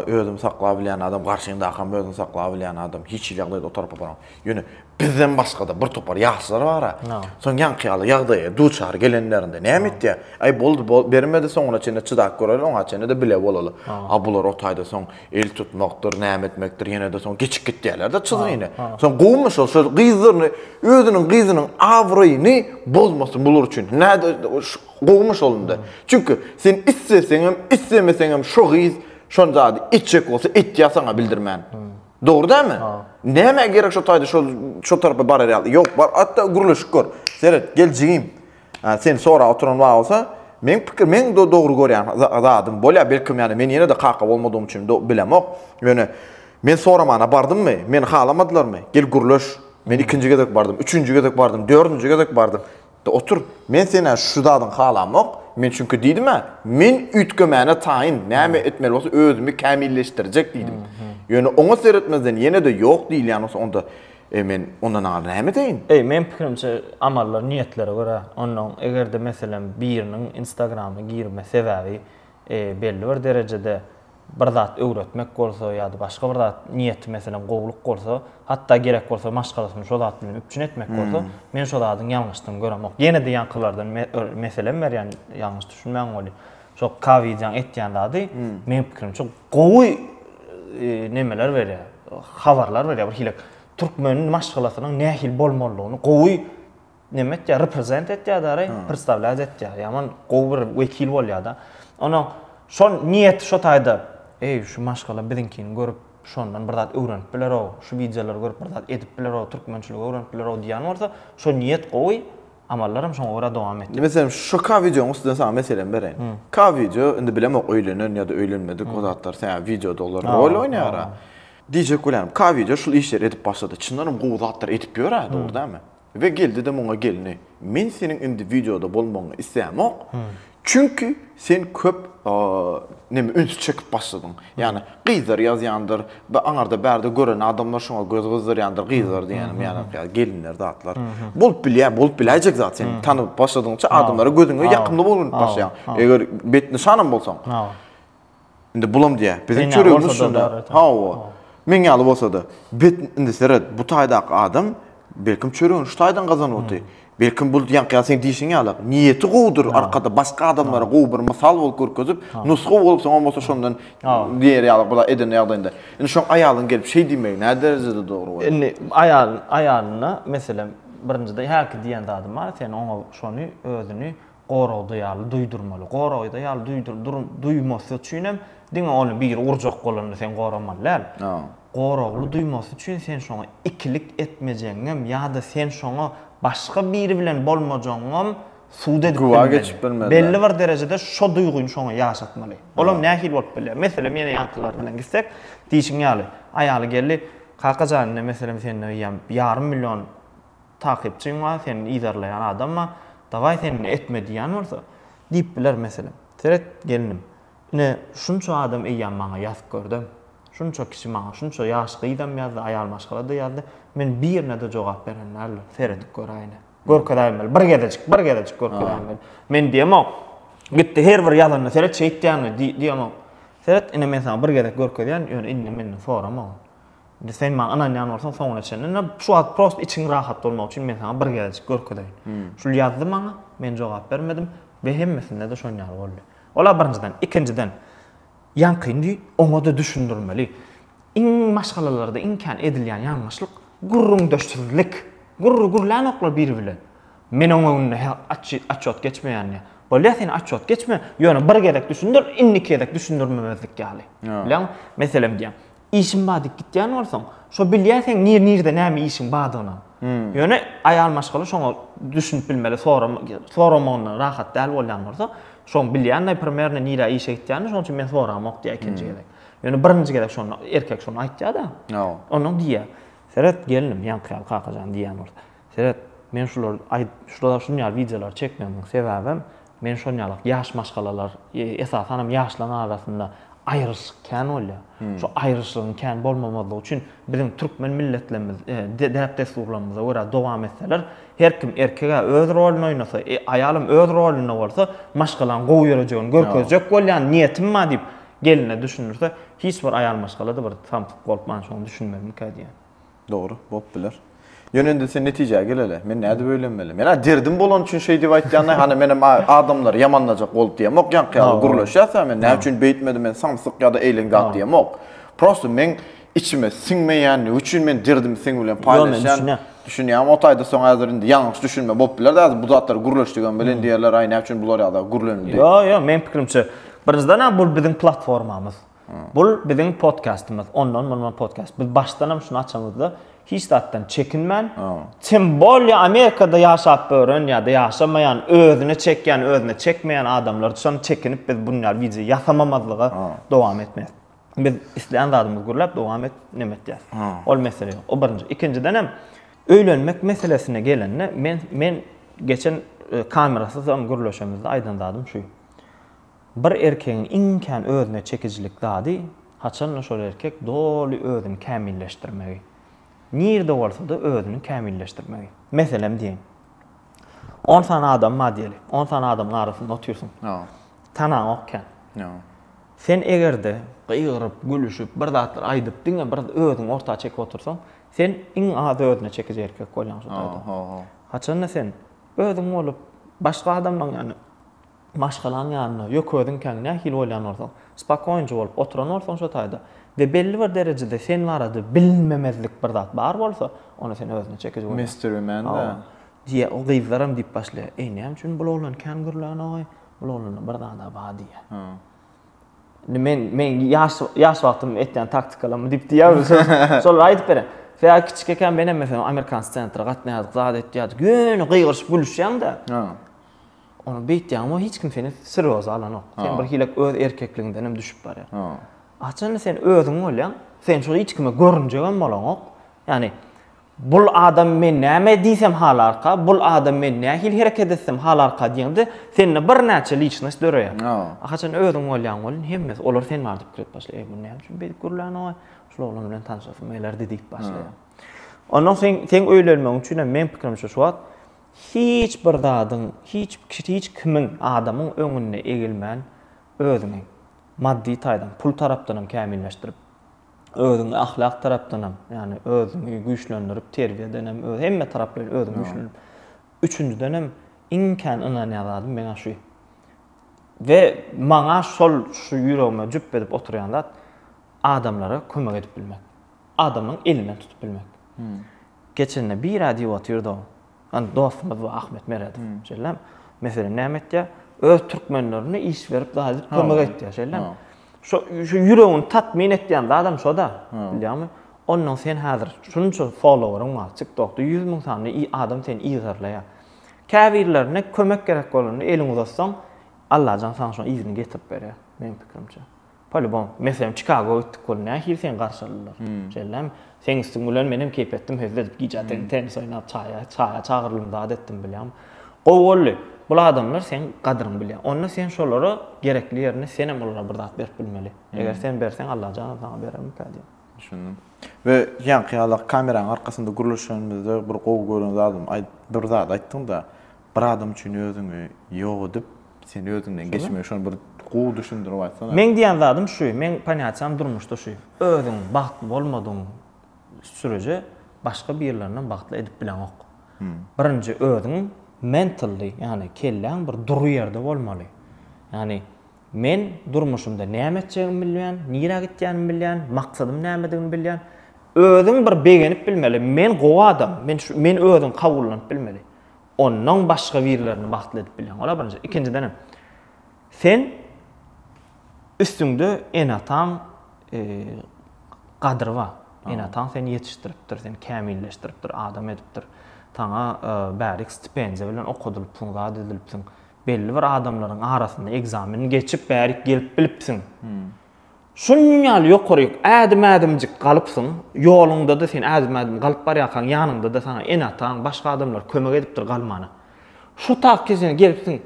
özümi saklap bilýän adam, garşyňdakam özüni saklap bilýän adam. Hiç hili ýagdaýda o tarapa baramok. Ýöne bizden başga-da bir topar ýaşlar bar-a. Soň ýaňky ýaly ýagdaýa duçar gelenlerinde näme etýär? Aý, boldy, bol, bermedi, soňuna çenli çydap göreli, oňa çenli-de bile bolaly. A bular o taýda soň el tutmakdyr, näme etmekdir, ýene-de soň geçip gitýärler-de çyzygyny. Soň gowumy şol, şol gyzlaryny, özüniň gyzynyň abraýyny bozmasyn bular üçin. Näde, gowumy şol indi? Çünki sen isleseňem, islemeseňem şo gyz şo zady etjek bolsa etýär saňa bildirmän. Dogry dämi? Näme gerek şo taýda şol şo tarapa barar ýaly? Ýok, bar, atda gürleşik gör. Seret, gel jigim. Sen sora oturan wagt bolsa, men pikir, men do dogry görýän zadym bolýar. Belki ýa-da men ýene-de kaka bolmadygym üçin do bilemok. Ýöne men soramana bardymmy? Meni halamadylarmy? Gel gürleş. Men ikinji gezek bardym, üçünji gezek bardym, dördünji gezek bardym. Da otur, men sen-ä şu zadyňy halamok. Men çünki diýdim-ä, men üýtgemäne taýyn, näme etmeli bolsa özümi kämilleşdirjek diýdim. Ýöne oňa seretmezden ýene-de ýok diýilýän bolsa, onda, eý, men onda naňar näme edeýin? Eý, meň pikirimçe, amallar niýetlere görä. Onnoň, eger-de, meselem, biriniň Instagramyna girme sebäbi, belli bir derejede bir zat öwretmek bolsa ýa-da başga bir zat, niýeti meselem gowulyk bolsa, hatda gerek bolsa maşgalasyny şo zat bilen üpjün etmek bolsa, men şo zadyň ýalňyşdygyny göremok. Ýene-de ýaňkylardan meselem berýän, ýalňyş düşünmäň weli. Şo Kawidýaň etýän zady, meniň pikirimçe, gowy nemeler berýär, habarlar berýär. Birhili türkmeniň maşgalasynyň nähili bolmalydygyny gowy neme etýär, reprezent etýär dary, predstavlýat etýär. Ýaman gowy bir wekil bolýar-da. Onuň şo niýeti şo taýda, eý, şu maşgala biziňkini görüp, şondan bir zat öwrenip biler-ow, şu wideolary görüp bir zat edip biler-ow, türkmençiligi öwrenip biler-ow diýýän bolsa, şo niýet gowy, amallar hem şoňa görä dowam etýär. Meselem, şu ka wideonyň üstünden saňa meselemi bereýin. Ka wideo, indi bilemok öýlenen ýa-da öýlenmedik o zatlar, sebäbi wideoda olar rol oýnaýar-a. Diýjek bolýanym, ka wideo şul işleri edip başlady. Çyndanam gowy zatlar edip ýör-ä, dogry dälmi? We Geldi-de muňa gelni, men seniň indi wideoda bolmagyňy isleýämok, çünki sen köp neme üns çekip başladyň. Ýagny gyzlar ýazýandyr, aňarda bärde gören adamlar şoňa göz gyzdyrýandyr, gyzlar diýýänim ýagny gelinler zatlar. Bolup bilýär, bolup biläýjek zat sen tanyp başladygyňça adamlara gözüňe ýakymly bolanyp başlaýaň. Eger betnyşanam bolsaň. Indi bulam diýä, biziň çöregimiz şunda. Hawa. Meň ýaly bolsa-da. Bet indi seret, bu taýdaky adam belkim çöregini şu taýdan gazanypdy. Belkim bul ýaňky seň diýşiň ýaly, niýeti gowudyr, arkada başga adamlara gowy bir mysal bolup görkezip, nusga bolup soňam bolsa şondan diýer ýaly bula eden ýagdaýynda. Indi şoň aýalyň gelip şeý diýmegi näderejede dogry bolýar? Indi aýal aýalyna, meselem, birinjiden häki diýen zadym bar, sen oňa şony özüni goragda ýaly duýdurmaly. Goragda ýaly duýdur dur duýmasy üçin hem diňe ony biri urjak bolanda sen goramaly däl. Goragly duýmasy üçin sen şoňa ikilik etmejegiňem ýa-da sen şoňa başga biri bilen bolmajagyňam sud edip bilmeli. Güwa geçip bilmeli. Belli bir derejede şo duýgyny şoňa ýaşatmaly. Olam nähili bolup bilýär? Meselem, ýene ýaňkylar bilen gitsek, diýşiň ýaly, aýaly geldi, Kaka jan, ine meselem sende ýa ýarym million takypçyň bar, seni yzarlaýan adam bar, dawaý sen indi etme diýýän bolsa, diýip biler, meselem. Seret, gelnim, ine, şunça adam eýýäm maňa ýazyp gördem. Şunça kişi maňa, şunça ýaş gyzam ýazdy, aýal maşgala-da ýazdy, men birine-de jogap beren däldir. Seredip göräýine. Görkezäýin weli, bir gezejik, bir gezejik görkezäýin weli. Men diýemok, gitdi her bir ýazanyna seret şeýtýäňmi? diýemok. Seret, ine, men saňa bir gezek görkezýän, ýöne indi menden sorama ony. Indi sen maňa ynanýan bolsaň soňuna çenli. Indi şu wagt prosta içiň rahat bolmagy üçin men saňa bir gezejik görkezeýin. Şul ýazdy maňa, men jogap bermedim we hemmesinde-de şon ýaly boldy. Ol-a birinjiden. Ikinjiden, ýaňkyny oňa-da düşündirmeli. Iň maşgalalarda iň kän edilýän ýalňyşlyk, gürrüňdeşsizlik. Gürrüň gürlänoklar biri bilen. Men oň öňünde he atçot geçmeýänini. Bolýa sen atçot geçme, ýöne bir gezek düşündir, indiki gezek düşündirmemezlik ýaly. Bilýäňmi? Meselem diýýän. Işim bar diýip gitýän bolsaň, şo bilýär seň nir-nirde näme işiň bardygyny. Ýöne aýal maşgala şoňa düşünip bilmeli, soram soramagyndan rahat däl bolýan bolsa, şoň bilýän-de primerno nirä işe gitýänini, şoň üçin men soramok diýýär ikinji gezek. Ýöne birinji gezek şony erkek şony aýtýar-da. Onnoň diýýär, Seret, gelnim, ýaňky ýaly Kakajan diýýän bolsa. Seret, men şulary aýdyp, şulara şuny ýaly wideolary çekmegimiň sebäbem, men şony ýalak ýaş maşgalalar, esasanam ýaşlaryň arasynda aýryşyk kän bolýar. Şu aýryşygyň kän bolmamazlygy üçin biziň türkmen milletlerimiz, däp-dessurlarymyza görä dowam etseler, her kim erkeg-ä öz roluny oýnasa, aýalam öz rolunda bolsa, maşgalaň gowy ýörejegini görkezjek bolýan niýetim bar diýip, geline düşündirse, hiç bir aýal maşgala-da bir samsyk bolup, mançuny düşünmezmikä diýýän. Dogry, bolup biler. Ýöne indi sen netijä geleli. Men nädip öýlenmeli? Men-ä derdim bolany üçin şeý diýip aýtýan-da, hany menem adamlary ýamanlajak bolup diýemok ýaňky ýaly gürleşýäs-ä men. Näme üçin beýtmedi, men samsyk ýa-da eýleň zat diýemok. Prosta meň içime siňmeýändigi üçin men derdimi seň bilen paýlaşýan. Düşünýäňmi? O taýda soň häzir indi ýalňyş düşünme bolup biler-de, häzir bu zatlary gürleşdigem bilen diýerler, aý näme üçin bular ýa-da gürlenildi. Ýok, ýok, meň pikirimçe, birinjiden-ä bu biziň platformamyz. Bul biziň podkastymyz. Ondan mundan podkast. Biz başdanam şuny açamyzda hiç zatdan çekinmän, tim bolýa Amerikada ýaşap ören ýa-da ýaşamaýan, özüne çekýän, özüne çekmeýän adamlar üçin çekinip biz bu ýaly wideo ýasamamazlyga dowam etmeýäs. Biz islän zadymyzy gürläp dowam et, neme etýäs. Ol mesele ýok. O birinji. Ikinjiden hem öýlenmek meselesine gelende men men geçen kamerasyzam gürleşemizde aýdan zadym şu. Bir erkegiň iň kän özüne çekijilik zady, haçanda şol erkek doly özüni kämilleşdirmegi. Nirede bolsa-da özüni kämilleşdirmegi. Meselem diýeýin. On sany adam bar diýeli. On sany adamyň arasynda otyrsyň. Tanaňok kän. Sen eger-de gygyryp, gülüşip, bir zatlar aýdyp, diňe bir özüňi orta çekip otursaň, sen iň az özüne çekiji erkek bolýaň şo taýdan. Haçanda sen özüň bolup, başga adamlaň ýaly maşgalaň ýanynda, ýöke özüňkäňi nähili oýlan bolsaň, spakoýnja bolup oturan bolsaň şo taýda we belli bir derejede sen barada bilinmemezlik bir zat bar bolsa, onda sen özüne çekiji bolýaň. Mystery man da. Hawa. Diýýä, ol gyzlaram diýip başlaýa, Eý, näme üçin bul oglan kän gürlänok-aý? Bul oglanda bir zad-a bar diýýä. Hawa. Indi men, meň ýaş, ýaş wagtym etýän taktikalarmy diýip diýýämi, şolary aýdyp berýän. Sebäbi kiçik ekän menem meselem amerikan scentra gatnaýardyk, zat etýärdik, ýöne gygyryşyp gülüşýäň-dä. Hawa. Ony beýtýäň, emma hiç kim seni serýoza alanok. Sen bir hili öz erkekligiňdenem düşüp barýaň. Haçanda sen özüň bolýaň, sen şol hiç kime görünjegem bolaňok. Ýagny bul adam men näme diýsem halarka, bul adam men nähili hereket etsem halarka diýende, sende birnäçe liçnost döreýär. A haçan özüň bolýaň welin, hemmesi olar sen bar diýip gürläp başlaýar. Eý, bu näme üçin beýdip gürlänok-aý? Şul oglan bilen tanşasym gelerdi diýip başlaýar. Ondan soň seň öýlenmegiň üçinem, meň pikirimçe, şu wagt Hiç bir zadyň, hiç hiç kimiň, adamyň öňünde egilmän, özüňi maddy taýdan, pul tarapdanam kämilleşdirip, özüňi ahlak tarapdanam, ýagny özüňi güýçlendirip, terbiýedenem, öz hemme taraplaýyn özüňi güýçlendirip, üçünjidenem iň kän ynanýan zadym meň-ä şu. We maňa şol şu ýüregime jüp edip oturýan zat, adamlara kömek edip bilmek. adamyň elinden tutup bilmek. Geçende bira diýip otyrdy-ow. Ony dostumyz bu Ahmet Meredow. Şeýlem, meselem näme etýär? Öz türkmenlerine iş berip zady kömek etýär. Şeýlem. Şo şu ýüregini tatmin etýän zadam şo-da. Bilýäňmi? Onnoň sen häzir şunça followeryň bar, TikTokda ýüz müň sany i adam seni yzarlaýar. Käbirlerine kömek gerek bolanda eliňi uzatsaň, Allajan saňa şoň yzyny getirip berýär, meniň pikirimçe. Polibom. Meselem, Çikagoa gitdik bolup, nähili seni garşy aldylar? Şeýdilärmi? Seň üstüň bilen menem keýp etdim, hezil edip, gije atyn tennis oýnap, çaýa, çaýa çagyrdym, zat etdim, bilýärmi? Gowy boldy. Bul adamlar seň gadyryňy bilýär. Onda sen şolara gerekli ýerinde senem olara bir zat berip bilmeli. Eger sen berseň, Allajanam saňa berermikä diýip. Düşündim. We ýaňky ýaly-a kameraň arkasynda gürleşenimizde bir gowy gören zadym aýdyp, bir zat aýtdyň-da, Bir adam üçin özüňi ýok edip, sen özüňden geçmegi şony bir gowy düşündirip aýtsana. Meň diýen zadym şu, meň ponýatiýam durmuşda şu, özüň bagtly bolmadygyň süreje başga birlerinem bagtly edip bileňok. Birinji özüň mentally, ýagny kelläň bir dury ýerde bolmaly. Ýagny men durmuşymda näme etjegimi bilýän, nirä gitýänimi bilýän, maksadym nämedigini bilýän. Özüň bir begenip bilmeli, men gowy adam, men şu, men özüň kabullanyp bilmeli. ondan başga birlerini bagtly edip bilýän. Ola birinji. Ikinjiden hem sen üstüňde enataň e, gadyry bar. Enataň seni ýetişdiripdir, seni kämilleşdiripdir, adam edipdir. Saňa e, bärik stipendiýa bilen okadylypsyň, zat edilipsiň. Belli bir adamlaryň arasynda ekzameni geçip bärik gelip bilipsiň. Hmm. Şunun ýaly ýokaryk ädim-ädimjik galypsyň, ýoluňda-da sen ädim-ädim galyp barýarkaň, ýanyňda-da saňa ene-ataň, başga adamlar kömek edipdir galmana. Şu tak kesene gelipsiň.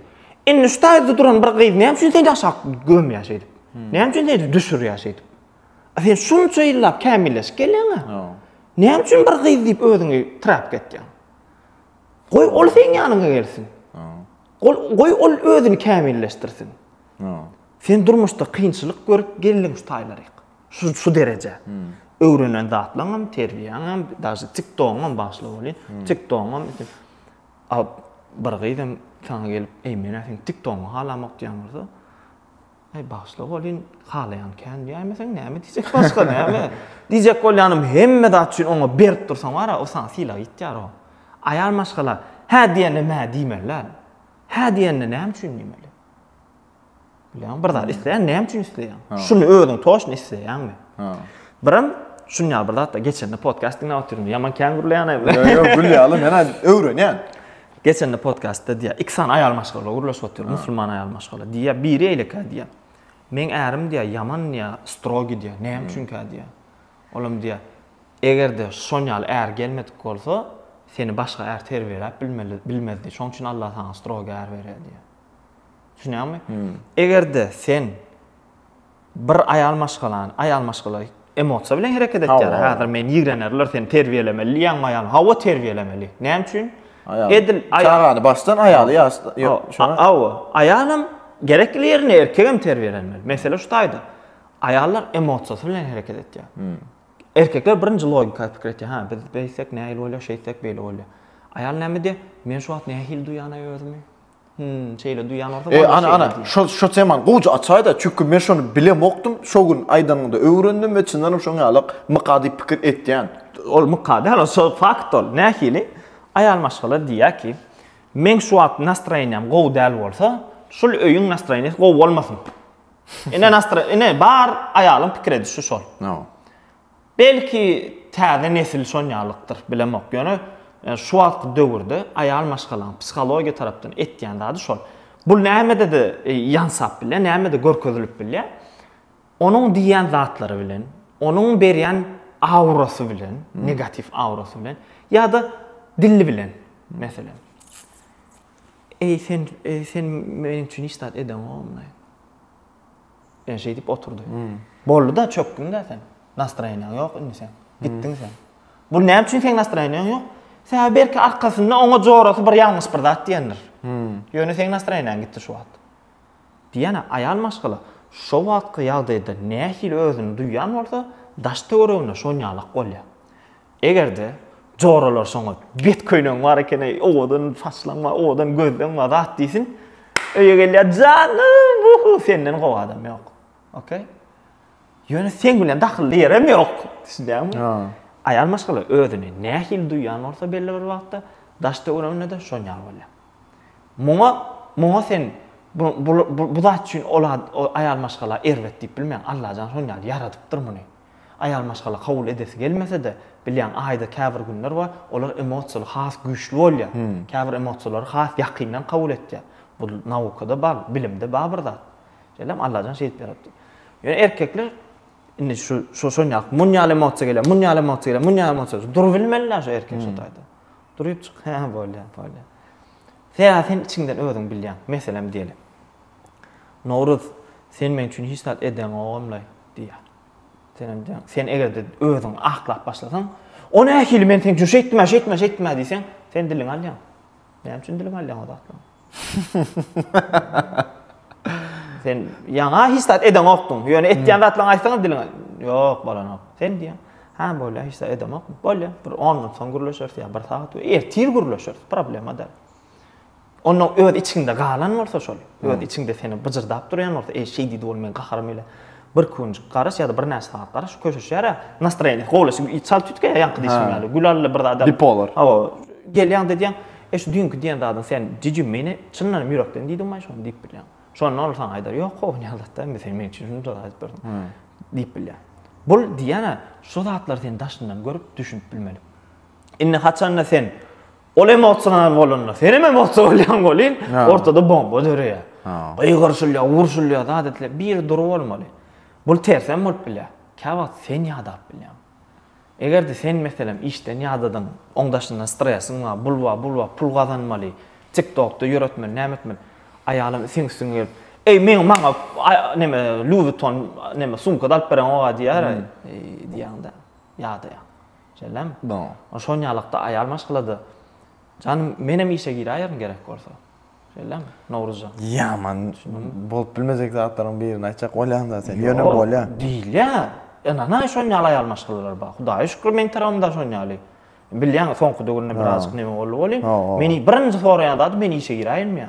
Indi şu taýda duran bir gyz näme üçin seni aşak gömýär şeýdip? Näme üçin seni düşürýär şeýdip? Sen şunça ýyllap kämilleşip gelýäň-ä. Näme üçin bir gyz diýip özüňi trap etýäň? Goý, ol seň ýanyňa gelsin. Goý, ol özüni kämilleşdirsin. Sen durmuşda kynçylyk görüp geldiň şu taýlaryk. Şu şu derejä. Öwrenen zatlaňam, terbiýäňem, daşy TikTogyňam başly bolýa. TikTogyňam al bir gyzam saňa gelip, "Eý, men ä seň TikTogyňy halamok" diýen bolsa, Eý, başly bolýyn, halaýan kän diýäýmeseň näme diýjek başga näme? Diýjek bolýanym hemme zat üçin oňa berip dursaň bar-a, o saňa sylag ýitýär o. Aýal maşgala hä diýende mä diýmeli däl. Hä diýende näme üçin diýmeli? Bilýän, bir zat isleýän, näme üçin isleýän? Şuny özüň toşny isleýänmi? Ha. Biram şuny ýaly bir zatda geçende podcast diňläp otyryn. Ýaman kän gürleýän aýby. Ýok, ýok, gürleýän, men aýdym, öwrenýän. Geçende podcastda diýýär, iki sany aýal maşgala gürleşip otyr, musulman aýal maşgala. Diýýär, biri eýleka diýýär. Meň ärim diýýär, ýaman diýýär, strogi diýýär. Näme üçin kä diýýär? Olam diýýär, eger-de şon ýaly är gelmedik bolsa, seni başga är terbiýeläp bilmeli, bilmezdi. Şoň üçin Allah saňa strogi är berýär diýýär. Düşünýäňmi? Eger-de sen bir aýal maşgalany, aýal maşgala emosiýa bilen hereket etýär. Häzir men ýigrenerler seni terbiýelemeli diýýäňmi aýalyma? Hawa terbiýelemeli. Näme üçin? Edil çagany başdan aýaly ýaşda ýok şoňa. Hawa, aýalam gerekli ýerine erkegem terbiýelenmeli. Mesele şu taýda. Aýallar emosiýasy bilen hereket etýär. Erkekler birinji logika pikir etýär. Ha, biz beýtsek nähili bolýar, şeýtsek beýle bolýar. Aýal näme diýýär? Men şu wagt nähili duýýan özümi? Hmm, şeýle duýan bolsa. E, ana, ana, şo, şo teman gowja açaýda, çünki men şony bilemokdym, şo gün aýdanyňda öwrendim we çyndanam şoň ýaly myka diýip pikir etýän. Ol myka däl, şo fakt ol. Nähili? Aýal maşgala diýýär ki, meň şu wagt nastroýeniýam gowy däl bolsa, şul öýüň nastroýeniýasy gowy bolmasyn. Ine, nastroý, ine, bar aýalyň pikir edişi şol. No. Belki täze nesil şonýalykdyr, bilemok. Ýöne şu wagtky döwürde aýal maşgalaň psihologiýa tarapdan etýän zady şol. Bu nämede-de ýansap bilýär, nämede görkezilip bilýär. Onuň diýýän zatlary bilen, onuň berýän aurasy bilen, negatiw aurasy bilen ýa-da dili bilen, meselem. Eý, sen, eý, sen meniň üçin hiç zat edeňokmy? Ýene şeýdip oturdy. Boldy-da, çökdüň-dä sen. Nastroýeniýaň ýok indi seň. Gitdiň sen. Bu näme üçin seň nastroýeniýaň ýok? Sebäbi belki arkasynda oňa jorasy bir ýalňyş bir zat diýendir. Ýöne seň nastroýeniýaň gitdi şu wagt. Diýýän-ä, aýal maşgala şo wagtky ýagdaýda nähili özüni duýýan bolsa, daş-töweregine şonýalak bolýar. Eger-de joralar şoňa bet köýnegiň bar ekeni, owadan saçlaň bar, owadan gözleň bar, zat diýsin. Öýe gelýär, janym, uhu, senden gowy adam ýok. Okey? Ýöne sen bilen dakylly ýerem ýok. Düşünýäňmi? Ha. Aýal maşgala özüni nähili duýýan bolsa belli bir wagtda daş töwereginde-de şonýa bolýar. Muňa, muňa sen bu, bu, bu, bu zat üçin ol aýal maşgala erbet diýip bilmeýäň. Allajan şonýa ýaradypdyr muny. Aýal maşgala kabul edesi gelmese-de, bilýän, aýda käbir günler bar, olar emosiýaly has güýçli bolýar. Käbir emosiýalary has ýakyndan kabul etýär. Bu naukada bar, bilimde bar bir zat. Şeýlemi? Allajan şeýdip ýaratdy. Ýöne erkekler indi şu şu şon ýaly, muny ýaly emosiýa gelýär, muny ýaly emosiýa gelýär, muny ýaly emosiýa, durup bilmeli-dä şu erkek şu taýda. Durypjyk, hä, bolýar, bolýar. Sebäbi sen içiňden özüň bilýäň. Meselem diýeli. Nowruz, sen meň üçin hiç zat edeňogam-laý. Diýýär. Senem diýýär, sen eger-de özüňi aklap başlasaň, o nähili men seň üçin şeýtdim-ä, şeýtdim-ä, şeýtdim-ä diýseň, sen diliňi alýaň. Näme üçin diliňi alýaň o zatlaryň? sen ýaňa hiç zat edeňokdyň. Ýöne etýän zatlaryňy aýtsaň diliňe, ýok bolanok. Sen diýýär, ha bolýar, hiç zat edemok. Bolýar, bir 10 minut soň gürleşeris ýa bir sagat, ertir gürleşeris, problema däl. Ondan öz içinde galan bolsa şol, öz içinde seni byjyrdap durýan bolsa, eý şeý diýdi ol men gaharymy ile. Bir künjik garaş ýa-da bir näçe sagat garaş köşeşýär ä. Nastroýeniýesi gowlaşyp, çalt üýtgeýär ýaňky diýşim ýaly. Gülally bir zada. Bipolar. Hawa, gelýäň diýýäň, eý şu düýnki diýen zadyň sen jijim meni çyndan hem ýürekden diýdiň maý şony diýip bilýäň. Şonda ol saňa aýdar, ýok gowy Nyýazatda indi sen meniň üçin şunça zat aýdyp berdiň diýip bilýär. Bul diýýän-ä, şu zatlary sen daşyndan görüp, düşünip bilmeli. Indi haçanda sen Ol emosional bolanda, sen hem emosiýa bolýaň welin, ortada bomba döreýär. Gygyrşylýar, urşulýar, zat edilýär. Biri dury bolmaly. Bul tersem bolup bilýär. Kä wagt sen ýadap bilýäň. Eger-de sen meselem işden ýadadyň, oň daşyndan stresiň bar, bul bar, bul bar, pul gazanmaly, TikTokda ýöretmeli, näme etmeli. Aýalyň itiň üstüňe gelip, Eý, meň maňa näme Louis Vuitton näme sumka da alyp bereňok-a diýär, diýýäň-de, ýadaýaň. Jellem, Boo, şonýalykda aýal maşgalada. Janym, menem işe giräýerin gerek bolsa. Jellem, Nowruzjan. Ýaman bolup bilmejek zatlaryň birini aýtjak bolýaň-da sen, ýöne bolýa. Ýok, diýilýär. Ynanaý şonýaly aýal maşgalalar bar. Hudaýa şükür meň tarabymda şonýaly. Bilýäňiz, soňky döwürde birazajyk neme boldy welin, meni birinji soraýan zady men işe giräýenmi ýa?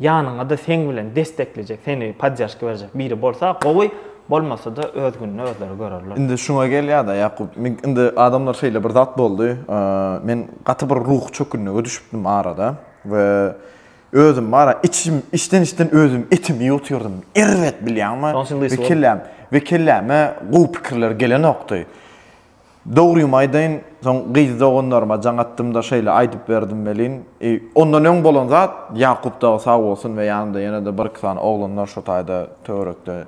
Ýanyňada seň bilen destekleýjek, seni poddержка berjek biri bolsa gowy, bolmasada öz gününi özleri görerler. Indi şuňa gelýada Ýakup, indi adamlar şeýle bir zat boldy, men gaty bir ruhy çökünlige düşüpdim arada we özüm ara içim içden içden özüm etimi ýutyrdym, erbet bilýäňmi we kelläm we kelläme gowy pikirler gelenokdy. Dogrymy aýdaýyn, soň gyz doganlaryma jaň atdym-da şeýle aýdyp berdim welin, ondan öň bolan zat, Ýakup dagy sag bolsun we ýanynda ýene-de bir-iki sany oglanlar şo taýda töwerekde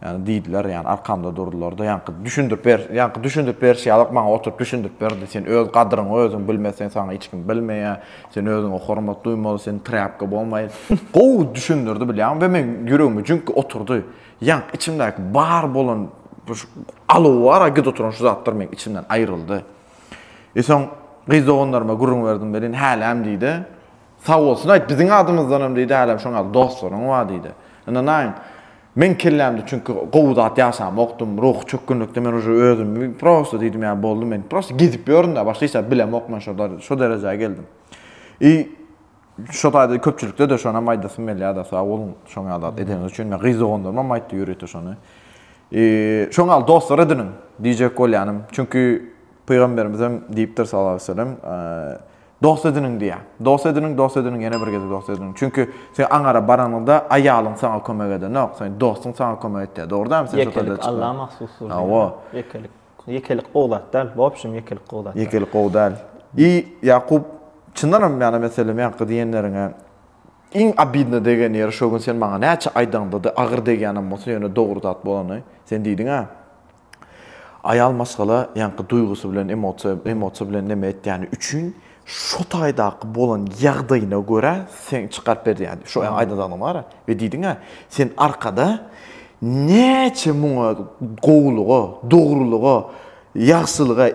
ýa diýdiler, ýa arkamda durdular-da, ýaňky düşündirip ber, ýaňky düşündirip berşi ýalyk maňa oturyp düşündirip berdi, sen öz gadyryňy özüň bilmeseň saňa hiç kim bilmeýär, sen özüňe hormat duýmaly, sen trýapka bolmaý. Gowy düşündirdi bilýäňmi we meň ýüregime jüňk oturdy. Ýank içimdäki bar bolan bir alow bar-a git oturan şu zatlar meň içimden aýryldy. E soň gyz doganlaryma gürrüň berdim welin häläm diýdi. Sag bolsun aýt biziň adymyzdanam diýdi häläm şoň ýaly dostlaryň bar diýdi. Ynanaýyň meň kellämde çünki gowy zat ýaşamokdym ruhy çökgünlikde men uje özümi prosta diýdim ýa boldy men prosta gezip ýörün-dä başga hiç zat bilemok men şo derejä geldim. I Şo taýda köpçülikde-de şonam aýdasym gelýär-de, sag boluň şoň ýaly zat edeniňiz üçin. Men gyz doganlarymam aýtdy ýörite şony. Şoň ýaly dostlar ediniň diýjek bolýanym. Çünki Pygamberimizem diýipdir sallallahu aleýhi we sellem, Dost ediniň diýýär. Dost ediniň, dost ediniň, ýene bir gezek dost ediniň. Çünki sen aňara baranyňda aýalyň saňa kömek edenok, seň dostuň saňa kömek etýär. Dogry dälmi? Ýekelik Alla mahsusdyr diýýär. Hawa. Ýekelik. Ýekelik gowy zat däl. Wobşem ýekelik gowy zat däl. Ýekelik gowy däl. I Ýakup çyndanam ýana meselem ýaňky diýenleriňe iň obidno degen ýeri şo gün sen maňa näçe aýdaňdady agyr degýänem bolsa ýöne dogry zat bolany sen diýdiňä aýal maşgala ýaňky duýgusy bilen emosiýa emosiýa bilen neme etýäni üçin Şu taýdaky bolan ýagdaýyna görä seň çykaryp berýädi. Şu aýdadanyň bar we diýdiň-ä, sen arkada näçe muňa gowulyga, dogrulyga, ýagşylyga,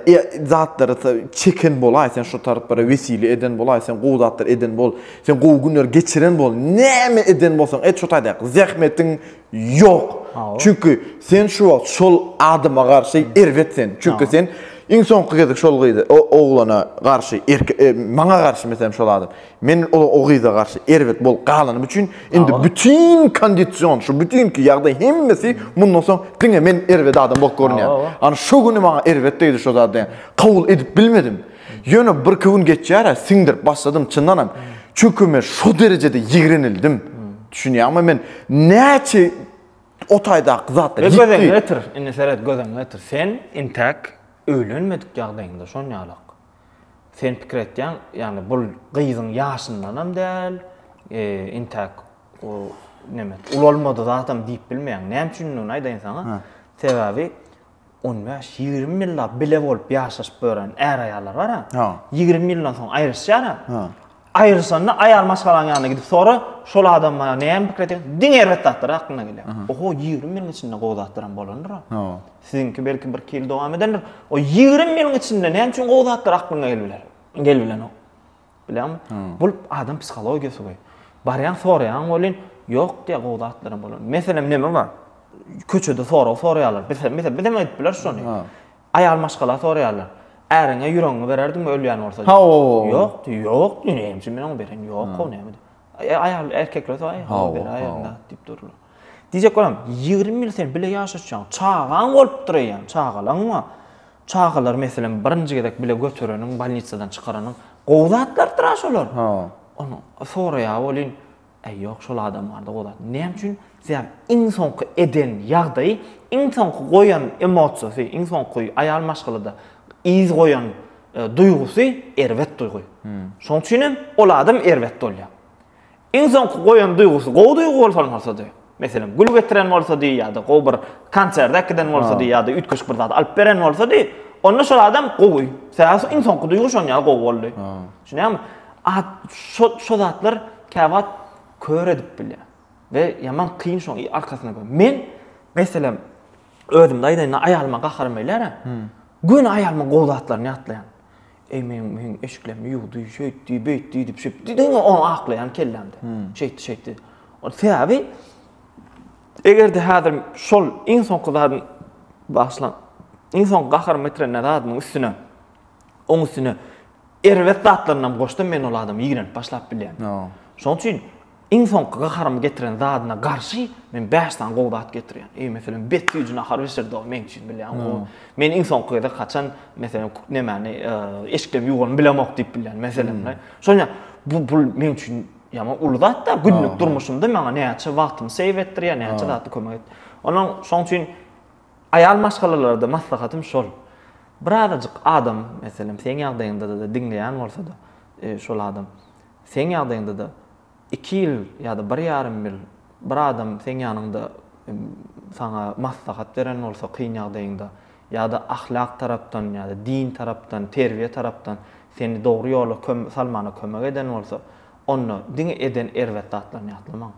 zatlara çeken bolaý, sen şu taraplara wesile eden bolaý, sen gowy zatlar eden bol, sen gowy günleri geçiren bol, näme eden bolsaň et şu taýdaky zähmetiň Ýok. Çünki sen şu wagt şol adama garşy erbet sen. Çünki sen iň soňky gezek şol gyza, o oglana garşy, maňa garşy meselem şol adam. Men o gyza garşy erbet bolup galanym üçin indi bütin kondision, şu bütinki ýagdaý hemmesi mundan soň diňe men erbet adam bolup görünýär. Ana şu güni maňa erbet degdi şo zat diýen. Kabul edip bilmedim. Ýöne birki gün geçýär-ä, siňdirip başladym, çyndanam. Çünki men şo derejede ýigrenildim. Düşünýäňmi, men näçe o taýdaky zatlar ýitdi. Göz öňüne getir, indi seret, göz öňüne getir. Sen intäk öýlenmedik ýagdaýyňda şonýalak. Sen pikir etýäň, ýagny bu gyzyň ýaşyndanam däl, intäk ulalmady zatam diýip bilmeýäň. Näme üçindigini aýdaýyn saňa. Sebäbi on bäş, ýigrimi ýyllap bile bolup ýaşaşyp ýören är-aýallar bar-a. Ha. Ýigrimi ýyldan soň aýryşýar-a. Ha. Aýryşanda aýal maşgalaň ýanyna gidip sora, şol adam maňa näme pikir edýär? Diňe erbet zatlar aklyna gelýär. Oho, ýigrimi ýylyň içinde gowy zatlaram bolandyr-a. Ha. Siziňki belki bir-iki ýyl dowam edendir. O ýigrimi ýylyň içinde näme üçin gowy zatlar aklyňa gelip biler? Gelip bilenok. Bilýäňmi? Bul adam psihologiýasy goý. Barýaň, soraýaň welin, ýok diýýär gowy zatlaram bolar. Meselem, näme bar? Köçede sorag soraýarlar. Biz hem, biz hem edip bileris şony. Aýal maşgala soraýarlar. Äriňe ýüregiňi bererdiňmi ölýän bolsa? Ýok diýýär. Ýok diýýär. Näme üçin men oňa bereyim? Ýok gowy näme diýýär. E, aýal erkek bolsa, aý, hawa, bela ýerinde diýip durlar. Diýjek bolam, ýigrimi ýyl sen bile ýaşaşýaň, çagaň bolupdyr eýýäm, çagalaň bar. Çagalary, meselem, birinji gezek bile götereniň, bolnitsadan çykaranyň, gowy zatlardyr-a şolar. Ony soraýar welin, äý, ýok, şol adam bar-da, gowy zat. Näme üçin? Sebäbi iň soňky eden ýagdaýy, iň soňky goýan emosiýasy, iň soňky aýal maşgalada yz goýan duýgusy erbet duýgy. Şoň üçin hem ol adam erbet bolýar. Iň soňky goýan duýgusy gowy duýgy bolsa bolsady, meselem, gül getiren bolsady ýa-da gowy bir konsert äkiden bolsady ýa-da üýtgeşik bir zat alyp beren bolsady, onda şol adam gowy. Sebäbi iň soňky duýgy şonuň ýaly gowy boldy. Düşünýäňmi? Şo zatlar käwagt kör edip bilýär we ýaman kyn şoň arkasyna gör. Men, meselem, Özümde aýdaýynda aýalyma gaharym gelýär-ä. Göni aýalymyň gowy zatlaryny ýatlaýan. Eý meniň meniň eşiklerimi ýuwdy, şeýtdi, beýtdi diýip şeýtdi. Diýdiňmi ony aklaýan kellämde. Şeýtdi, şeýtdi. Ol sebäbi eger-de häzir şol iň soňky zadyň bagyşlaň, iň soňky gaharymy getiren zadymyň üstüne, oň üstüne erbet zatlaryny hem goşsam men ol adamy ýigrenip başlap bilýän. Şoň üçin Iň soňky gaharymy getiren zadyna garşy men bäş sany gowy zat getirýän. Eý, meselem, bet ýüzüni ahar bişirdi o meň üçin bilýän. O men iň soňky gezek haçan meselem nemäni e, eşikleri ýuwanyny bilemok diýip bilýän meselem. Şoňa bu bu meň üçin ýaman uly zat da günlük durmuşymda maňa näçe wagtymy seýw etdirýär, näçe zatda kömek et. Onuň şoň üçin aýal maşgalalarda maslahatym şol. Birazajyk adam, meselem, seň ýagdaýyňda-da diňleýän bolsa-da, e, şol adam Seň ýagdaýyňda-da iki ýyl ýa-da bir ýarym ýyl bir adam seň ýanyňda saňa maslahat beren bolsa kyn ýagdaýyňda ýa-da ahlak tarapdan ýa-da din tarapdan, terbiýe tarapdan seni dogry ýola salmana kömek eden bolsa, onda diňe eden erbet zatlaryny ýatlamaň.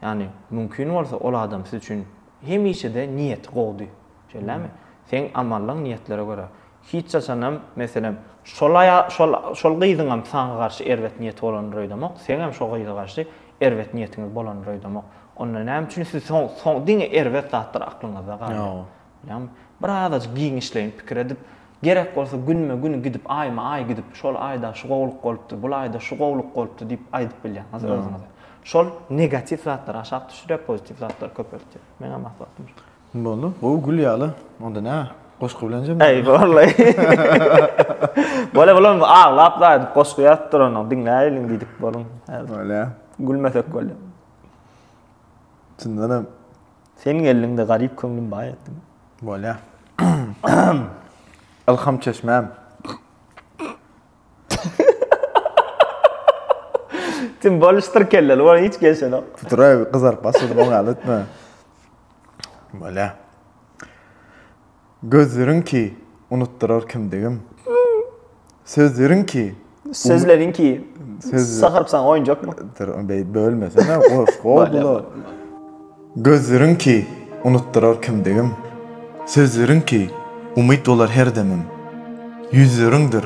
Ýagny, mümkin bolsa ol adam siz üçin hemişe-de niýeti gowudy. Şeýlemi? Seň amallaň niýetlere görä. Hiç haçanam, meselem, şol aýa, şol, şol gyzyňam saňa garşy erbet niýeti bolandyr öýdemok, seňem şo gyza garşy erbet niýetiňiz bolandyr öýdemok. Onda näme üçin siz soň, soň diňe erbet zatlar aklyňyzda galýar? Ýa. Bilýäňmi? Bir azajyk giňişleýin pikir edip, gerek bolsa günme gün gidip, aýma aý gidip, şol aýda şu gowulyk bolupdy, bul aýda şu gowulyk bolupdy diýip aýdyp bilýäňiz Ýa. özüňize. Şol negatiw zatlary aşak düşürýär, pozitiw zatlary köpeltýär. Meňem maslahatym şo. Boldy. Gowy gül ýaly. Onda nä? Goşgy bilen jemlä. Eý, wallay. Bolýa, bolýa, onda aglap daýdyp goşgy ýazyp duranyň, diňläýeliň diýdik boluň. Bolýa. Gülmesek bolýa. Çyndan hem. Sen geldiň-de garyp köňlüm baý etdiň. Bolýa. Ylham çeşmäm. Sen boluşdyr kelleli, bolan hiç gelşenok. Tuturay, gyzaryp başladym, oňa ýaly etme. Bolýa. Gözleriň ki, unutdyrar kimdigim. Sözleriň ki, Sözleriň ki, sagyryp saňa oýunjakmy? Dur, beý bölmesene, goş, gow Gözleriň ki, unutdyrar kimdigim. Sözleriň ki, umyt bolar her demim. Ýüzleriňdir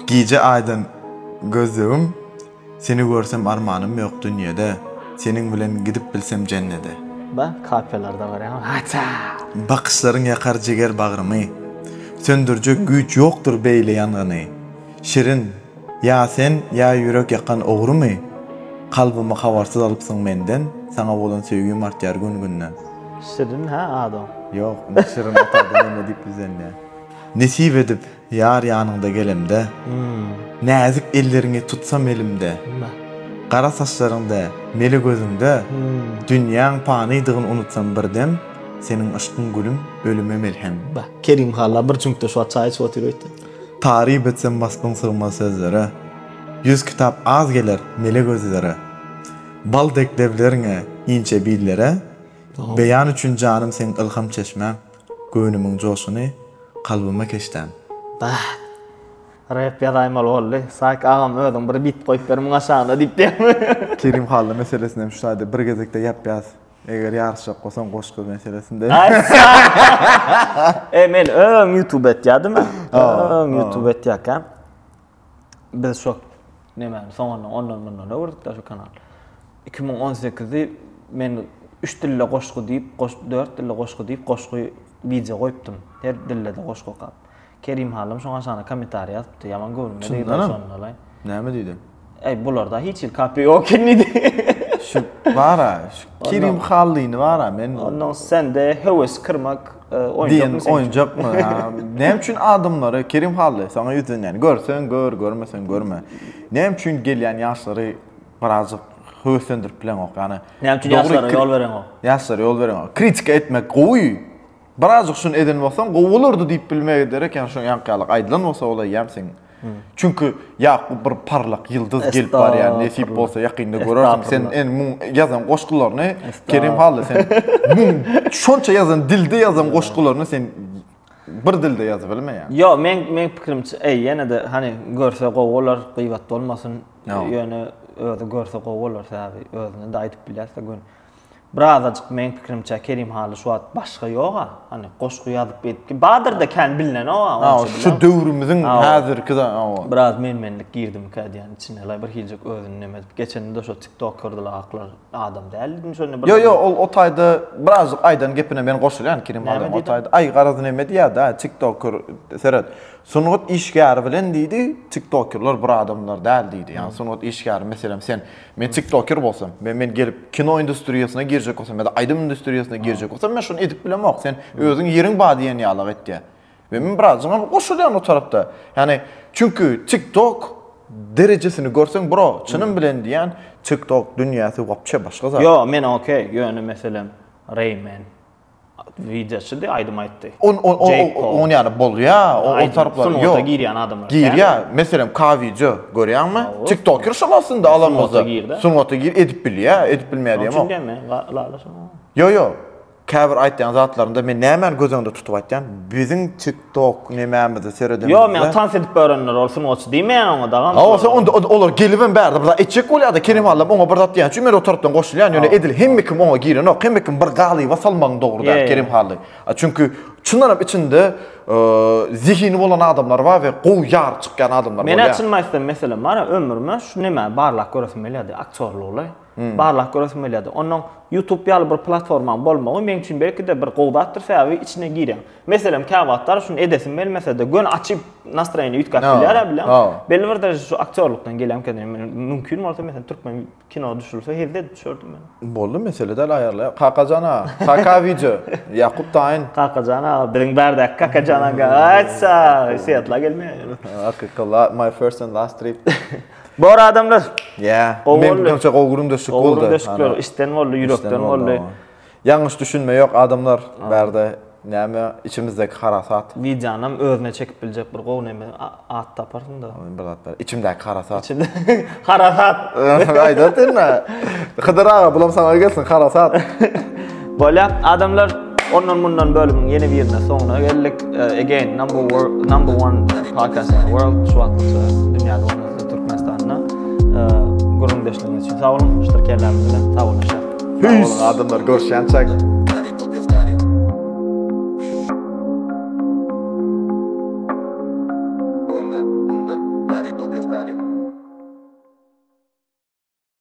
gije aýdan gözlegim, Seni görsem armanym ýok dünýede, Seniň bilen gidip bilsem jennede. Ba, kapellarda görýän, haça! Bakyşlaryň ýakar jiger bagrymy, Söndürjek güýç ýokdur beýle ýangyny. Şirin, ýa sen, ýa ýürek ýakan ogrymy? Kalbymy habarsyz alypsyň menden, Saňa bolan söýgim artýar gün-günden. Şirin, hä, adyň? Ýok, indi Şirin ata ady näme diýip ýüzlenýär. Nesip edip, Ýar ýanyňda gelemde, Näzik elleriňi tutsam elimde, Gara saçlaryňda, mele gözüňde, Dünýäň panydygyn unutsam bir dem, Seniň yşkyň gülüm, ölüme melhem. Kerim halla bir çüňkde şu wagt çaý içip otyr öýtdä. Taryp etsem waspyň sygmaz sözlere, Ýüz kitap az geler mele gözlere, Bal dek lebleriňe, inçe billere, Beýan üçin janym seň ylham çeşmäň. Göwnümiň joşuny kalbyma keşdäm. Bah! Rep ýazaýmaly boldy. Saýk agam özüň bir bit goýup ber muň aşagyna diýip diýýärmi? Kerim Hally meselesini hem şu taýda bir gezekde ýapýas. Eger ýaryşjak bolsaň goşgy meselesinde. Eý men öň ýutube etýädim. Öň ýutube etýäkäm. biz şo nemäni soňundan ondan mundan öwürdikdä şo kanal iki müň on sekizi men üç dilde goşgy diýip dört dilde goşgy diýip goşgy wideo goýupdym her dilde de goşgy okap kerim halym şoň aşagyna kommentariý ýazypdy ýaman göwnüme degdi şonda näme diýdi Ey bularda hiç hil kapy yok eken diýdi. Şu bara, şu Kerim Hallyny bara men. Ondan sende höwes kırmak Diýen oýunjakmy? Näme üçin adamlary Kerim Hally saňa ýüzlenýän? Görseň gör, görmeseň görme. Näme üçin gelýän ýaşlary birazjyk höweslendirip bileňok? Ýagny Näme üçin ýaşlara ýol bereňok? Ýaşlara ýol bereňok. Kritika etmek gowy. Birazjyk şuny eden bolsaň gowy bolardy diýip bilmegi derek, ýagny şoň ýaňky ýaly aýdylan bolsa bolaýýam seň. Çünki Ýakup bir parlak ýyldyz gelip barýar, nesip bolsa ýakynda görersiň. Sen en muň ýazan goşgularyny Kerim Hally sen muň şonça ýazan dilde ýazan goşgularyny sen bir dilde ýazyp bilmeýär. Ýok, men men pikirimçe, eý, ýene-de hani görse gowy bolar, gyýbat bolmasyn. Ýöne özi görse gowy bolar, sebäbi özüne-de aýdyp bilýäs-de gün. Birazajyk meň pikirimçe Kerim Hally şu wagt başga ýoga. Hany goşgy ýazyp edip. Badyrda kän bilinenok a. Hawa şu döwrümiziň häzirki de hawa. Biraz menmenlik girdimikä diýýän içine. Laý bir hiljik özüni neme edip. Geçende şo tiktokerdler aklar adam däl diýdim şonda bir. Ýok ýok ol o taýda birazjyk aýdan gepine men goşulýan Kerim Hally o taýda. Aý garaz neme diýýärda tiktoker seret. Sungat işgäri bilen diýdi tiktokerler bir adamlar däl diýdi. Ýa sungat işgäri meselem sen Men tiktoker bolsam we men gelip kino industriýasyna girjek bolsam ýa-da aýdym industriýasyna girjek bolsam, men şuny edip bilemok, sen özüň ýeriň bar diýen ýalyk etýär. We men birazajygam goşulýan o tarapda. Ýagny, çünki tiktok derejesini görseň bro, çynym bilen diýýän, tiktok dünýäsi wapçe başga zat. Ýok, men okey, ýöne meselem Rayman. Wideoçydy, aýdym aýtdy. On on on Jake Paul. on ýaly bolýa, o o Aýdym, taraplar sungat ýok. girýän adamlar. Girýä, meselem K-wideo görýäňmi? Hawa. TikToker şol aslynda Sungata alanymyzda. gir-de. Sungata gir edip bilýä, edip bilmeýä Şonuň üçin diýemok. diýen men, la- lala şonuň. Ýo ýo, käbir aýtýan zatlarynda men nämäni göz öňünde tutup aýtýan, biziň tik Tok nemämize sereden. Ýok men tans edip örenler ol sungaçy diýmeýän oňa dagam. Hawa sen onda olar gelip hem bärde bir zat etjek bolýada Kerim allam oňa bir zat diýen üçin men o tarapdan goşulýan ýöne edil hemme kim oňa girenok hemme kim bir galyba salmagyň dogry däl Kerim hally çünki çyndan hem içinde zehini bolan adamlar bar we gowy ýary çykýan adamlar bolýar. Menä çyn maýsem meselem bar ömrüme şu nemäni barlap göresim gelýärdi aktýorlygy. Hmm. Barlak göresim gelýärdi. Ondan YouTube ýaly bir platformaň bolmagy meň üçin belki-de bir gowy zatdyr, sebäbi içine girýän. Meselem, käwagtlar şuny edesim gelmese-de, gön açyp nastroýeni üýtgäp no. bilýär bilen. No. Belli bir dereje şu aktýorlukdan gelýärmikä diýen. Mümkin bolsa, meselem, türkmen kino düşürilse, hezde edip düşerdim men. Boldy, mesele däl aýarlaýar. Kakajan aga, kaka wideo. Ýakup Taýyn. Kakajan aga, biziň bärdäki Kakajan aga. Aýtsa, Seatla gelmeýär. Akykala, my first and last trip. Bor adamlar. Ýa. Men görse gowy gürüm döşük boldy. Gowy döşükler işden boldy, ýürekden boldy. Ýalňyş düşünme ýok adamlar. Bärde näme içimizdäki harasat. Wideonam özüne çekip biljek bir gowy näme at taparsyňda. Bir zat bar. Içimdäki harasat. Içimde harasat. Aýdatin. Hydyr aga bulam saňa gelsin harasat. Bolýar. Adamlar ondan mundan bölümiň ýene birine soňuna geldik. E, again number one, number one podcast in the world şu wagt dünýäde bolmasa Türkmenistanda. E, Gurrun deşligiňiz üçin sag boluň. Şudur kellämiz bilen sag boluň. Sag boluň adamlar görşýänçäk.